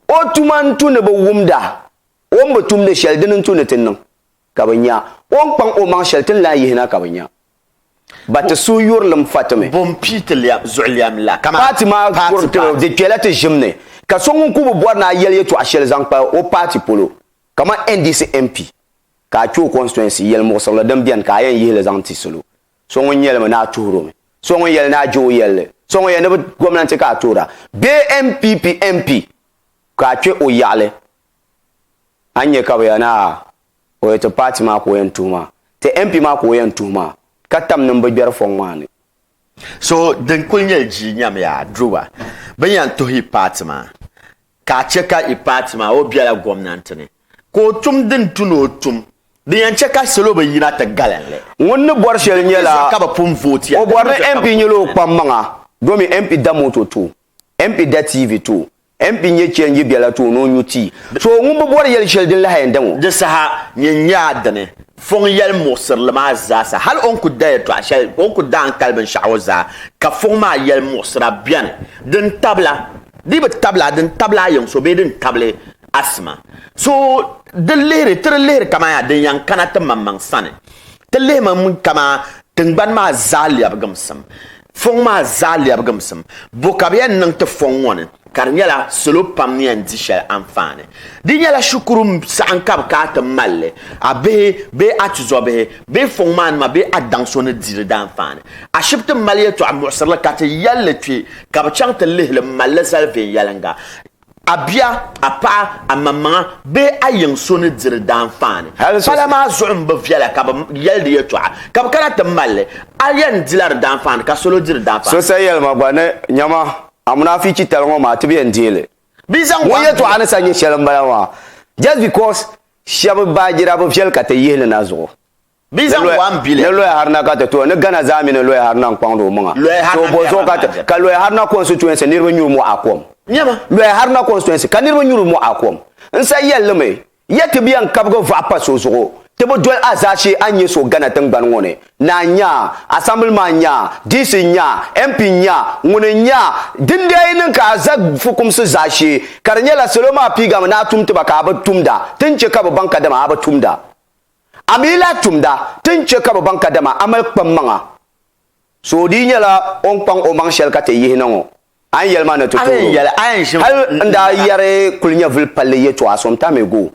O tuma n-tu ni bɛ wumda, o ni bi tumdi shɛli dini n-tu ni ti niŋ ka bɛ nya, o ni kpaŋ o maŋ shɛli ti ni lahi yihi na ka bɛ nya ba ti suhuyurilim fa ti mi. Bɔ m-pii ti zuɣulɛm la kamani paati maa kuri tiri di kpɛla ti ʒim ni ka so ŋun kuli bi bɔri ni a yɛli yɛtɔɣa shɛli zaŋ kpa o paati polo kamani NDC MP ka a kpe o constituency yɛlimuɣisirili din beni ka a yɛn yihi li zaŋ ti salo so ŋun nyɛli mi ni a tuhiri o mi so ŋun yɛli ni a je o yɛlli so ŋun yɛli ni bi gomnanti ka a tuhira bee NPP MP ka a kpe o yaɣili a ni nya ka bɛ yɛli ni a o yɛli ti party maa ka o yɛn tuhi maa ti MP maa ka o yɛn tuhi maa ka tam nimbigbɛri fɔŋ maa ni. So din kuli nyɛli jii nyamiya a duroba bɛ ni yɛn tuhi yi party maa. Ka a chɛ ka i paati maa o biɛla gomnanti ni ka o tum din tu ni o tum, din yɛn chɛ ka salo bi yina ti galin li. Ŋun ni bɔri shɛli nyɛla o bɔri ni MP nyɛla o kpam maŋa domin MP da moto ti o, MP da TV ti o, MP nyɛ chɛnji biɛla ti o ni o nyu tii. So ŋun bi bɔri yɛli shɛli din lahi yɛn daŋ o. Di saha nyɛ nyaa dini Fɔŋ yɛli muɣisirili maa zaasa hali o ni ku da yɛtɔɣa shɛli, o ni ku daangkali binshɛɣu ŋɔ zaa ka Fɔŋ maa yɛli muɣisira bɛni din tabila. di bi tabila din tabila a yiŋ so bee din tabili a sima. So di lihiri, ti di lihiri kaman yaa din yan kana ti maŋmaŋ sani. Ti lihimi kaman tiŋgbani maa zaa lɛbigimsim, fɔŋ maa zaa lɛbigimsim. Bɔ ka bɛ yan niŋ ti fɔŋ ŋɔ ni? Ka di nyɛla salo pam ni yan di shɛli anfaani. Di nyɛla shikuru saha ka bɛ ka a ti mal li, a bihi bee a tizɔbihi Bee fɔŋ maa nima bee a daŋ so ni di li daanfaani. Ashibiti mali yɛtɔɣa muɣisiri li ka ti yɛli li kpe ka bɛ chaŋ ti lihi li m-mali li zali viɛnyɛliŋga. A bia, a paɣa, a maŋmaŋa bee a yiŋ so ni di li daanfaani. Pala maa zuɣu m-bi viɛla ka bɛ yɛli di yɛtɔɣa ka bɛ kana ti mali li. A yɛn di la di daanfaani ka salo di di daanfaani. So sa yɛlima gba ni, Nyama, a munaafi chitali ŋɔ maa tib yɛn deei li. Ŋun yɛtɔɣa ni sa nyɛ shɛli m-bala maa. Just because Shɛba baajira bi viɛli ka ti yihi li na zuɣu. Bɛ zaŋ waa m-bi li. Ni Lɔya Haruna ka ti tooi, ni Ghana zaa mi ni Lɔya Haruna n-kɔŋdi o maŋa. Too bɔ zuɣu ka ti, ka Lɔya Haruna constituency niriba nyuri mɔɣu a kom? Nyama! Lɔya Haruna constituency ka niriba nyuri mɔɣu a kom? N sa yɛli li mi, ya ti bi yɛn kabigi vaɣa pa so zuɣu, ti bi doli a zaashee a ni nyɛ so Ghana tingbani ŋɔ ni, Naa n nya, Assembly maa n nya, DC n nya, MP n nya, ŋuni n nya, din daa yi niŋ ka a za fukumsi zaashee ka di nyɛla salo maa piigami ni a tum ti ba ka a bi tumda, ti ni chɛ ka bɛ baŋ kadama a bi tumda. A mi yi lahi tumda, ti ni chɛ ka bɛ baŋ kadama a mali kpammaŋa. So o dii nyɛla o ni kpaŋ o maŋ shɛli ka ti yihi na ŋɔ. A ni yɛli ma ni ti tuuro hal n daa yɛri kuli nyɛvuli palli yɛtɔɣa so m-pa mi go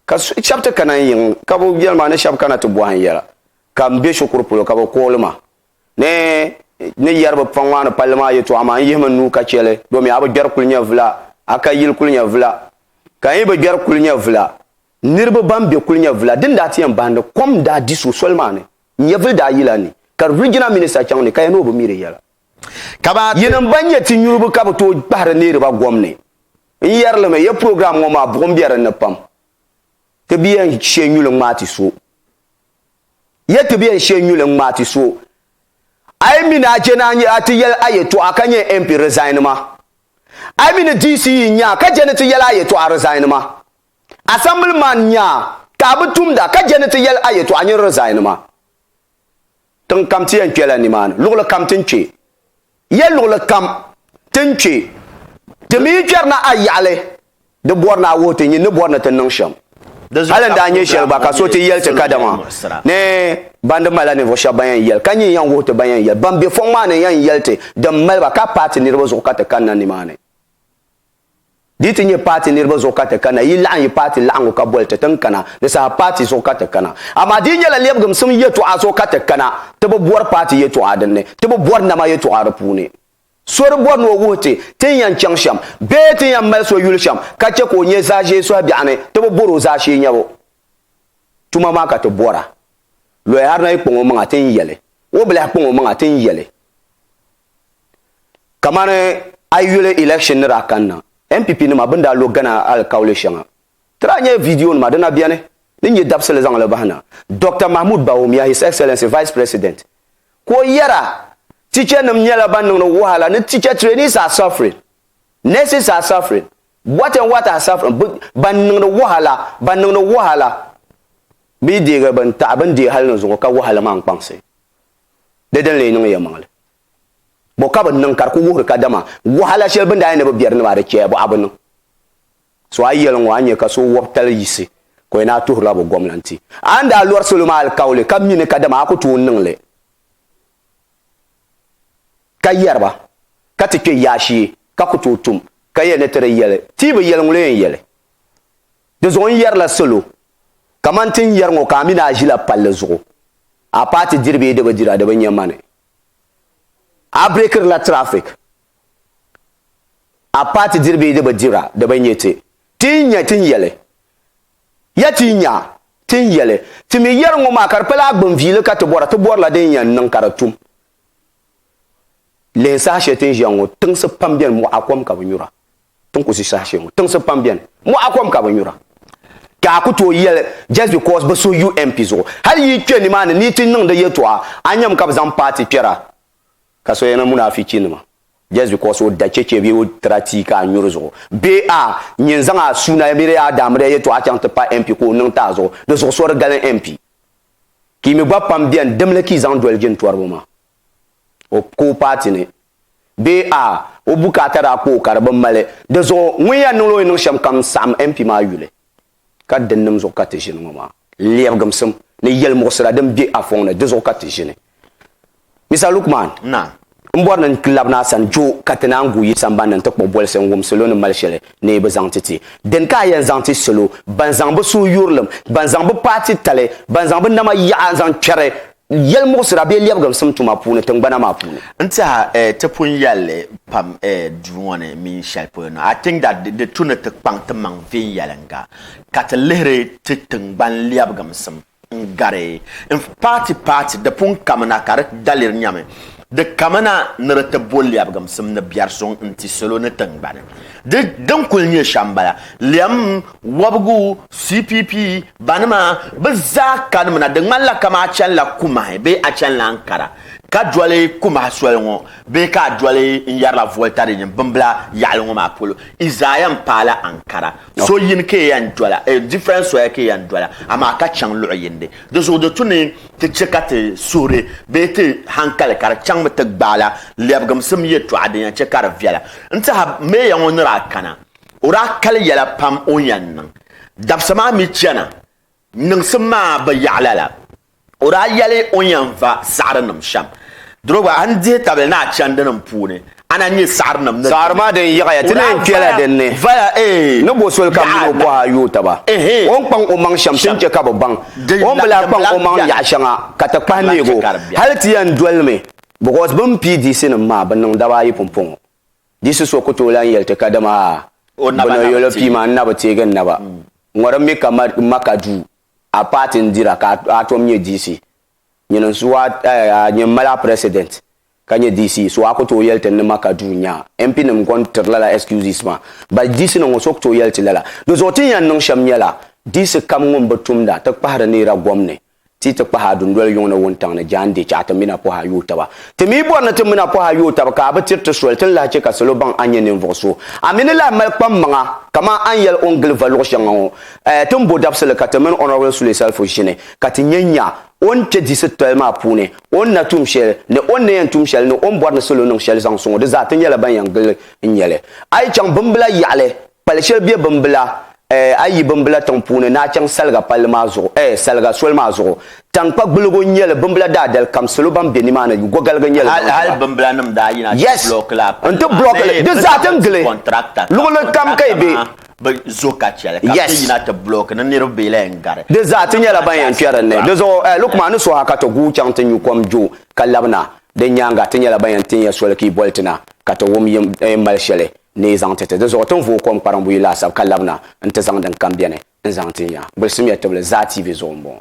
ka shɛba ti kana n-yiŋ ka bɛ yɛli ma ni shɛba kana ti bɔhi n yɛla ka m be shikuru polo ka bɛ kuɣili ma ni n ni yɛri bɛ paŋ maa ni palli maa yɛtɔɣa maa n yihimi n nuu ka chɛ li domi a bi gbɛri kuli nyɛvula a ka yili kuli nyɛvula ka n yi bi gbɛri kuli nyɛvula niriba ban be kuli nyɛvula din daa ti yɛn bahi ni kom daa di so soli maa ni nyɛvuli daa yila ni ka riginal minista chaŋ ni ka ya ni o bi mi di yɛla. Ka ba yi nim ban nyɛ ti nyuribi ka bi tooi kpahiri neeriba gom ni. N yɛri li mi, ya program ŋɔ maa buɣim be dinni pam. Ti bi yɛn she nyuli n ŋmaai ti so. Ya ti bi yɛn she nyuli n ŋmaai ti so. A yi mi ni a jɛni a ti yɛli a yɛtɔɣa ka nyɛ MP resign ma. A yi mi ni DC yi nya ka jɛni ti yɛli a yɛtɔɣa resign ma. Assembly man nya ka a bi tumda ka jɛni ti yɛli a yɛtɔɣa nyin resign ma. Tiŋ kam ti yɛn kpela nimaani, luɣili kam ti ni kpe ya luɣili kam ti ni kpe, ti mi yi kperi na a yaɣili, di bɔri ni a wuhi ti nyin ni bɔri ni ti niŋ shɛm. Hali n daa nyɛ shɛli gba ka so ti yɛli ti kadama ni ban di malila ninvuɣ shɛba ban yɛn yɛli, ka nyin yɛn wuhi ti ban yɛn yɛli, ban be fɔŋ maa ni yɛn yɛli ti din mali ba ka paai ti niriba zuɣu ka ti kanna nimaani. Di yi ti nyɛ paati niriba zuɣu ka ti kana, yi laɣim yi paati laɣingu ka boli ti ti ni kana, di saha paati zuɣu ka ti kana. Amaa di yi nyɛla lɛbigimsim yɛtɔɣa zuɣu ka ti kana, ti bi bɔri paati yɛtɔɣa din ni, ti bi bɔri nama yɛtɔɣa di puuni. So di bɔri ni o wuhi ti ti ni yɛn chaŋ shɛm bee ti ni yɛn mali so yuli shɛm ka chɛ ka o nyɛ zaashee sɔhi biɛɣu ni, ti bi bɔri o zaashee nyɛbu. Tuma maa ka ti bɔra. Lɔyaharina yi kpaŋ o maŋa ti ni yɛli, Wɔbilahi kpaŋ o maŋa ti ni yɛli. Kamani a yi yuli election ni daa kanna, NPP nima bini daa lo Ghana alikauli shɛŋa. Ti daa nyɛla video nima di na beni din nyɛ dabisili zaŋ li bahi na. Doctor Mahmoud Bawumia, His Excellency Vice President, ka o yɛra, Teacher nim nyɛla ban niŋdi wahala ni teacher trainees are suffering, nurses are suffering, what and what are suffering, bi ban niŋdi wahala, ban niŋdi wahala, bi yi deegi bini taɣi bini deei hali ni zuŋɔ ka wahala maa n kpaŋsi. Di din lee niŋ ya maŋli. Bɔ ka bɛ ni niŋ ka di ku wuhiri kadama wahala shɛli bɛ ni daa yɛn ni bi biɛri ni maa di chɛya bɔ a bi niŋ? So a yɛliŋ ŋɔ a ni nya ka so wɔbi tali yiɣisi ka o yɛn daa tuhirila bɔ gɔmnanti. A ni daa lɔri salo maa alikauli ka mi ni kadama a ku tooi niŋ li ka yɛri ba ka ti kpe yaashee ka ku tooi tum ka yɛli ni ti di yɛli ti yi bi yɛli ŋun lo yɛn yɛli. Di zuɣu n yɛrila salo kamani ti ni yɛri ŋɔ ka a mi ni a ʒila palli zuɣu, a paati diri bee di bi dira di bi nya mani. A bireekirila traffic, a paati diri bee di bi dira di bi nya ti. Ti yi nya ti ni yɛli ya ti yi nya ti ni yɛli ti mi yɛri ŋɔ maa ka di pala a gbinviili ka ti bɔra ti bɔrila din yɛn niŋ ka di tum. Lihi saha shɛli ti ni ʒiya ŋɔ, tiŋsi pam beni mɔɣa kom ka bi nyura. Ti ni ku ʒi saha shɛli ŋɔ, tiŋsi pam beni mɔɣa kom ka bi nyura. Ka a ku tooi yɛli just because bi suhi UNP zuɣu. Hali yi yi kpe nimaani ni yi ti niŋdi yɛltɔɣa, a ni nyami ka bi zaŋ paati kpɛra ka so yɛna munafichiinima just because o da chɛchɛ bee o tira tia ka a nyuri zuɣu. Bee a nyin zaŋ a suuna miri a daamiriya yɛltɔɣa chaŋ ti pa MP ka o niŋ ti a zuɣu. Di zuɣu so di gali MP. ka yi mi gba pam bɛni dimli ka yi zaŋ doli jintɔriba maa o ka o paati ni bee a o bukaata daa kpa o ka di bi mali di zuɣu ŋun yɛn niŋla o ni niŋ shɛm kam saɣim MP maa yuli ka di nim zuɣu ka ti ʒini ŋɔ maa lɛbigimsim ni yɛlimuɣisira din bɛ a fɔŋ ni di zuɣu ka ti ʒini. Mr Lukman, Na. M bɔri ni n ti labina a sani jo ka ti naan guui yi sambani ni n-ti kpuɣi bolisi n wum salo ni mali shɛli ni yi bi zaŋ ti ti. Dini ka a yɛn zaŋ ti salo ban zaŋ bi suhuyurilim, ban zaŋ bi paati tali, ban zaŋ bi nama yaɣa zaŋ kpɛri yɛlimuɣisira bee lɛbiginsim tuma puuni tingbana maa puuni? N tiɛha eh, ti pun yɛli li pam eh duu ŋɔ ni mini shɛli polo na. I think that di tu ni ti kpaŋ timaŋ viɛnyɛliŋga ka ti lihiri ti tiŋgbani lɛbiginsim n gari n paati paati di pun kamina ka di daliri nyami di kamina ni di ti bo lɛbigimsim ni biɛri suŋ n-ti salo ni tiŋgbani. Di din kul nyɛ shɛm m-bala. Lɛm, wɔbigu, CPP, banima, bɛ zaa kanimina di ŋmanila kama a chanila kumahi bee a chanila Ankara ka doli kumahi soli ŋɔ bee ka a doli n yɛrila volta din nyɛ bimbila yaɣili ŋɔ maa polo. Isaiah m-paai la Ankara. So yini ka e yan dola, different soya ka e yan dola, amaa ka chaŋ luɣ yindi. Di zuɣu di tu ni ti chɛ ka ti suhuri bee ti hankali ka di chaŋmi ti gbaai la lɛbigimsim yɛtɔɣa din yan chɛ ka di viɛla. N tɛha, Meeya ŋɔ ni daa kana, o daa kali yɛla pam o ni yan niŋ dabisa maa mi chana niŋsim maa bi yaɣi lala. O daa yɛli o ni yɛn va saɣirinim shɛm, Diriba, a ni dihi tabili ni a chandinim puuni, a na nyɛ saɣirinim ni di Saɣiri maa din yiɣiya, ti naan kpela din ni, ni bo soli kam ni o pɔhi a yooi taba. O ni kpaŋ o maŋ shɛm, ti ni chɛ ka bɛ baŋ o ni bi lahi kpaŋ o maŋ yaɣ shɛŋa ka ti kpahi neeg o. Hal ti yɛn doli li mi, bicos bɛ ni pii diɣisinim maa, bɛ niŋ daba ayi pumpɔŋɔ. Diɣisi so ku tooi lan yɛli ti kadama a, Bɛ nɔyolo pii ma, n na bi teeg n naba. Ŋɔrim mi ka Maka duu a paati n dira ka a tom nyɛ DC nyini n suhu a nyɛ mali a president ka nyɛ DC so a ku tooi yɛli ti ni ma ka duu nya MP nim kon tiri lala excuses maa but DC ni ŋɔ so ku tooi yɛli ti lala di zuɣu tin yan niŋ shɛm nyɛla DC kam ŋun bi tumda ti kpahiri neera gom ni ti ti kpahi a dundoli yuŋ ni wuntaŋ ni jaande chɛ a ti mina pɔhi a yoo taba ti mi bɔri ni ti mina pɔhi a yoo taba ka a bi tiri ti soli tin lahi chɛ ka salo baŋ a nyɛ ninvuɣu so a mi ni lahi mali kpam maŋa kaman a ni yɛli o ni gili va luɣi shɛŋa ŋɔ Eh, ti ni bo dabisili ka ti mini Honourable Sule Selfo ʒini ka ti nya nya o ni kpe diɣisi titali maa puuni, o ni na tum shɛli, ni o ni na yɛn tum shɛli ni o ni bɔri ni salo niŋ shɛli zaŋ suŋ o, di zaa ti nyɛla ban yɛn gili n nya li. A yi chaŋ Bimbila yaɣili, pali shɛli be Bimbila, eh, a yi yi Bimbila tiŋ puuni ni a chaŋ Saliga palli maa zuɣu, eh, Saliga soli maa zuɣu, tankpa gbulligu n-nyɛ li, Bimbila daadali kam salo ban be nimaani gɔgaligu n-nyɛ li zaŋ ti ba. Hali Bimbilanim daa yina ti block la a palli maa bee bɛ zaŋ ti contractor ka contractor maa bɛ zuɣu ka chɛ li ka bɛ ti yina ti bulooki ni niriba bee la yɛn gari. Di zaa ti nyɛla ban yɛn kpɛri ni. Di zuɣu a yi lu kuma ni suha ka ti guui chaŋ ti nyu kom jo ka labina. Di nyaaŋa ti nyɛla ban yɛn tin ya soli ka yi boli ti na ka ti wum yi ni mali shɛli ni yi zaŋ ti ti. Di zuɣu ti ni vooi kom kpariŋ buyi laasabu ka labina nti zaŋ din kam beni n-zaŋ tin ya. Gbulisimya tibili Zaa TV zuɣu m-bɔŋɔ.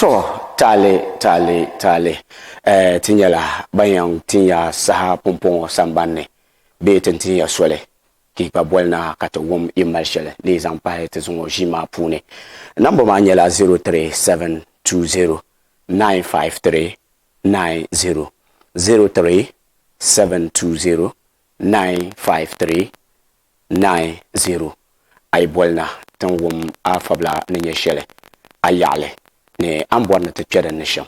to taali taali taali eh, ti nyɛla ban yɛn tinya saha pumpɔŋɔ sambanni bee ti tinya soli ka yi gba boli na ka ti wum yi mali shɛli ni yi zaŋ pahi ti zuŋɔ ʒii maa puuni namba maa nyɛla 03720 953 090 03720 95390 A yi boli na ti ni wum a fabila ni nyɛ shɛli a yaɣili ni a ni bɔri ni ti kpe din ni shɛm.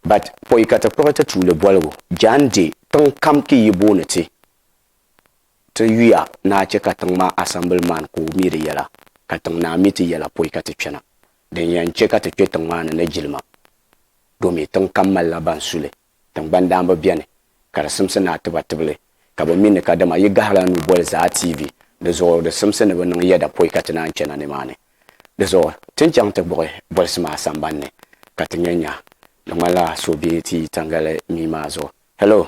But pɔi ka ti kpuɣi ti tuuli boligu Jan di tiŋ kam ki yi booni ti ti yuya ni a chɛ ka tiŋ maa asɛmbili man ka o mi di yɛla ka tiŋ naa mi ti yɛla pɔi ka ti kpɛna. Din yɛn chɛ ka ti kpe tiŋ maa ni ni jilima, domi tiŋ kam malila ban su li, tiŋgbani daambo beni ka di simsi ni a ti ba tibili, ka bɛ mi ni kadama yi gahila nuu boli Zaa TV, di zuɣu di simsi ni bɛ niŋ yɛda poi ka ti naan chana nimaani. Di zuɣu ti ni chaŋ ti kpuɣi bolisi maa sambani ni ka ti nya nya. Di ŋmanila so be ti yi tangali mii maa zuɣu. Hello!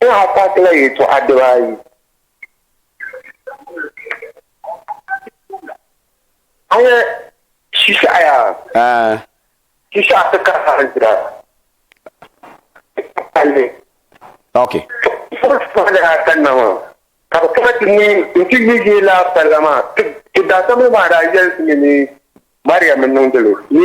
N daa paakila yɛltɔɣa dibaayi. A nya Shisaɣu yaa? Aa! Shisaɣu ti ka hali dira. Palli. Ok. Fuɣi fuɣi ni daa kanna maa, ka bɛ kana ti neei nti yi yi laa palli maa. Ti ti daadama maa daa yɛli ti mi ni Mariam n-niŋdi li ni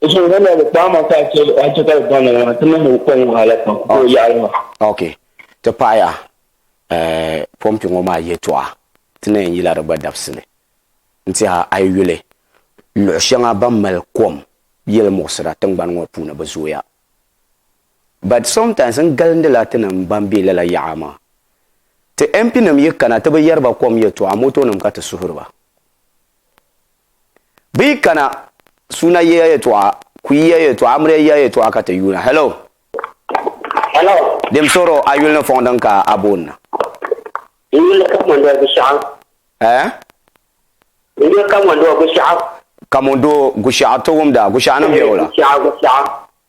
Eso nga na bi kpaama ka a chɛ a chɛ ka bi baŋ o maa ti niŋ o kɔŋ wahala pam ka o yaɣili ma. Ok, ti paɣiya eh, pɔmpi ŋɔ maa yɛtɔɣa ti na yɛn yila di gba dabisi ni n-ti a a yi yuli luɣ shɛŋa ban mali kom yili muɣisira tiŋgbani ŋɔ puuni bi zooya but sometimes n galindila ti nim ban be lala yaɣa maa ti MP nim yi kana ti bi yɛri ba kom yɛtɔɣa motonim ka ti suhiri ba. Bɛ yi kana, suuna yiya yɛtɔɣa, kuyi yiya yɛtɔɣa, amiliya yiya yɛtɔɣa ka ti yuuna. Hello? Hello? Dim suhiri o a yuli ni fɔŋ din ka a booni na. N yuli ka Mondoo Gushɛɣu. Eh? N yuli ka Mondoo Gushɛɣu. Ka Mondoo Gushɛɣu ti wumda, Gushɛɣu ni bɛ wula? Gushɛɣu, Gushɛɣu.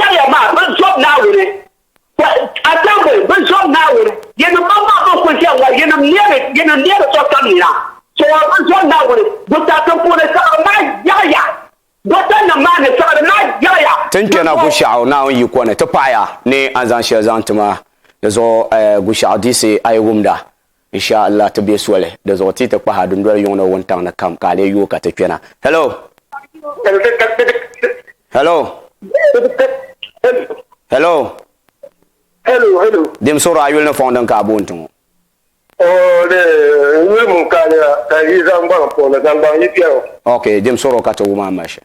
Yaya maa bi zɔb Naawuni, Assembly bi zɔb Naawuni, yinim mam maa bɛn kul chani ŋɔ, yinim neeri, yinim neeri sokam nina, Soŋor bi zɔb Naawuni, Busaasim puuni siɣiri maa yaɣiya, Gotannim maa ni siɣiri maa yaɣiya. Ti ni kpɛna Gushaɣu Naawuni yiko ni, ti paɣiya ni a ni zaŋ shɛli zaŋ ti ma di zuɣu Gushaɣu Diisi a yi wumda. In sha Allah ti be soli, di zuɣu ti yi ti kpahi a dundoli yuŋ ni wuntaŋ ni kam ka a lee yooi ka ti kpɛna. Hello! Hello! Hello! Hello, hello. Dim suɣiri a yuli ni fɔŋ din ka a booni ti ŋɔ. Oh, lee, n yuli mum ka a lee a, ka yi zaŋ gbaŋ puɣi ni zaŋ gbaŋ yi kpɛro. Ok, dim suɣiri o ka ti wum a mali shɛli.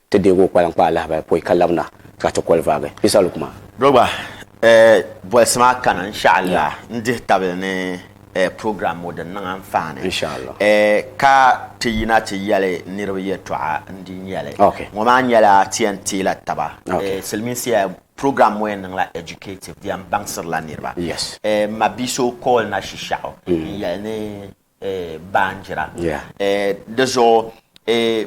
Ti deeg o kpalaŋ kpa alahabali pɔi ka labina ka ti koli vaagi. Isa lu kuma. Do gba bolisi maa kani n-sha'Allah n-dihi tabili ni program ŋɔ din niŋ anfaani ka ti yina ti yɛli niriba yɛltɔɣa n-di nyɛli. Ŋɔ maa nyɛla ti yɛn teela taba. Silimiinsi program ŋɔ yɛn niŋla educative di yɛn baŋsirila niriba. M ma bia so call na shishaɣu n-yɛli ni baanjira. Di zuɣu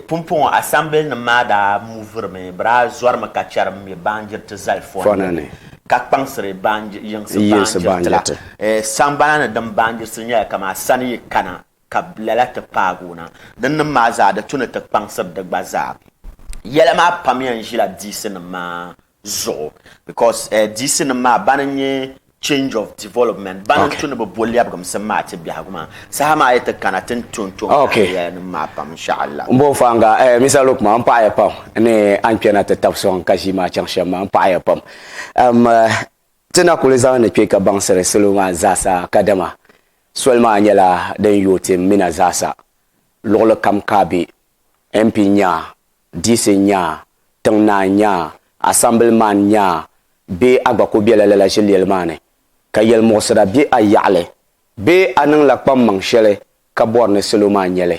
pumpɔŋɔ asɛmbilinim maa daa muvurimi, bɛ daa zɔrimi ka chɛri m-mi baanjiriti zali fɔna ni ka kpaŋsiri yiŋsi baanjiriti la. Saŋgbana ni din baanjirisi nyɛla kaman sani yi kana ka lala ti paag o na. Dinnim maa zaa di tu ni ti kpaŋsiri di gba zaa. Yɛla maa pam yɛn ʒila diisinim maa zuɣu because eh, diisi nim maa bani n-nyɛ change of development bani okay. n-tu ni bi bo lɛbigimsim maa ti biɛhigu maa saha maa yi ti kana ti ni tu n-tu n okay. area nim maa pam insha'Allah. N bo fanga eh, Mr Luke maa n paɣaya pam ni a ni kpɛna ti tab sɔŋ ka ʒii maa chaŋ shɛm maa n paɣaya pam um, uh, ti na kuli zaŋ ni kpɛ ka baŋsiri salo maa zaasa kadama soli maa nyɛla din yooi ti mina zaasa luɣuli kam ka be MP nyaa Diisi nyaa, tiŋ naa nyaa, asambili man nyaa bee a gba ku bela lala ʒiliyeli maa ni ka yelmuɣisira be a yaɣili bee a niŋ la kpammaŋ sheli ka bɔri ni salo maa nyeli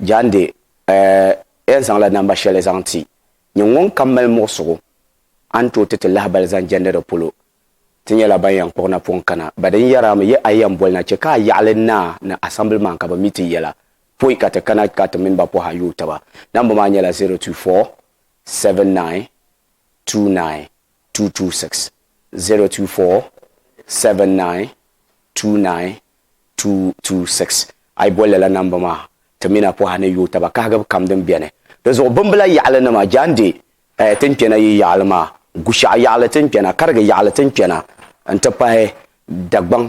jaande eh en zaŋ la namba sheli zaŋ ti nyin ŋun kam mali muɣisigu a ni tooi ti ti lahabali zaŋ jɛndi di polo Ti nyɛla ban yɛn kpuɣi napɔŋ kana ba din yɛri a mi yi a yɛn boli na chɛ ka a yaɣili naa ni Assemblyman ka bɛ mi ti yɛla poi ka ti kana ka ti mini ba pɔhi a yooi taba. Namba maa nyɛla 024792226, 024792226. A yi boli lala namba maa ti mini a pɔhi a ni yooi taba kahigibu kam din beni. Dinzuɣu bimbila yaɣili nima, Jaan Dee, Pahi ti ni kpɛna yi yaɣili maa, Gushɛɣu yaɣili ti ni kpɛna, Karigi yaɣili ti ni kpɛna n-ti pahi Dagbaŋ,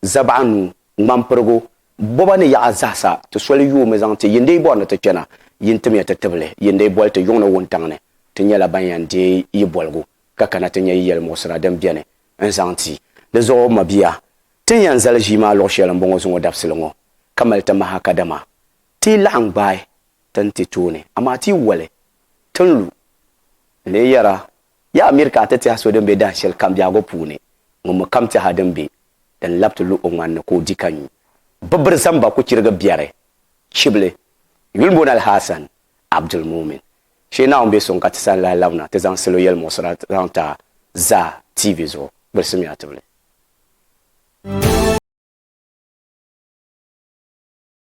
Zabaɣanuu, Ŋmanpirigu, Boba ni yaɣa zahisa ti soli yoomi zaŋ ti Yindeibɔri ni ti kpɛna yi ni timiya ti tibili Yindeibɔli ti yuŋ ni wuntaŋ ni. Ti nyɛla ban yɛn deei yi boligu ka kana ti nya yi yɛlimuɣisira din beni n-zaŋ ti. Di zuɣu m mabia, ti ni yɛn zali ʒii maa luɣ shɛli m-bɔŋɔ zuŋɔ dabisili ŋɔ ka mali ti maha kadama Ti yi laɣim gbaai ti ni ti tooni, amaa ti yi woli, ti ni lu. N lee yɛr a, Yaa Amir ka a ti tɛha so din be dahin shɛli kam biɛhigu puuni, ŋun mi kam tɛha din be di ni lab ti lu o ŋman ni ka o di ka nyu. Bɛ biri zaŋ ba ku chirigi biɛri chibili yuli m-booni Al-Hasan Abdul-Mumin. Shee Naawuni be suŋ ka ti sani lahi labina ti zaŋ salo yɛlimuɣisira zaŋ ti a zaa TV zuɣu, gbilsimiya tibili.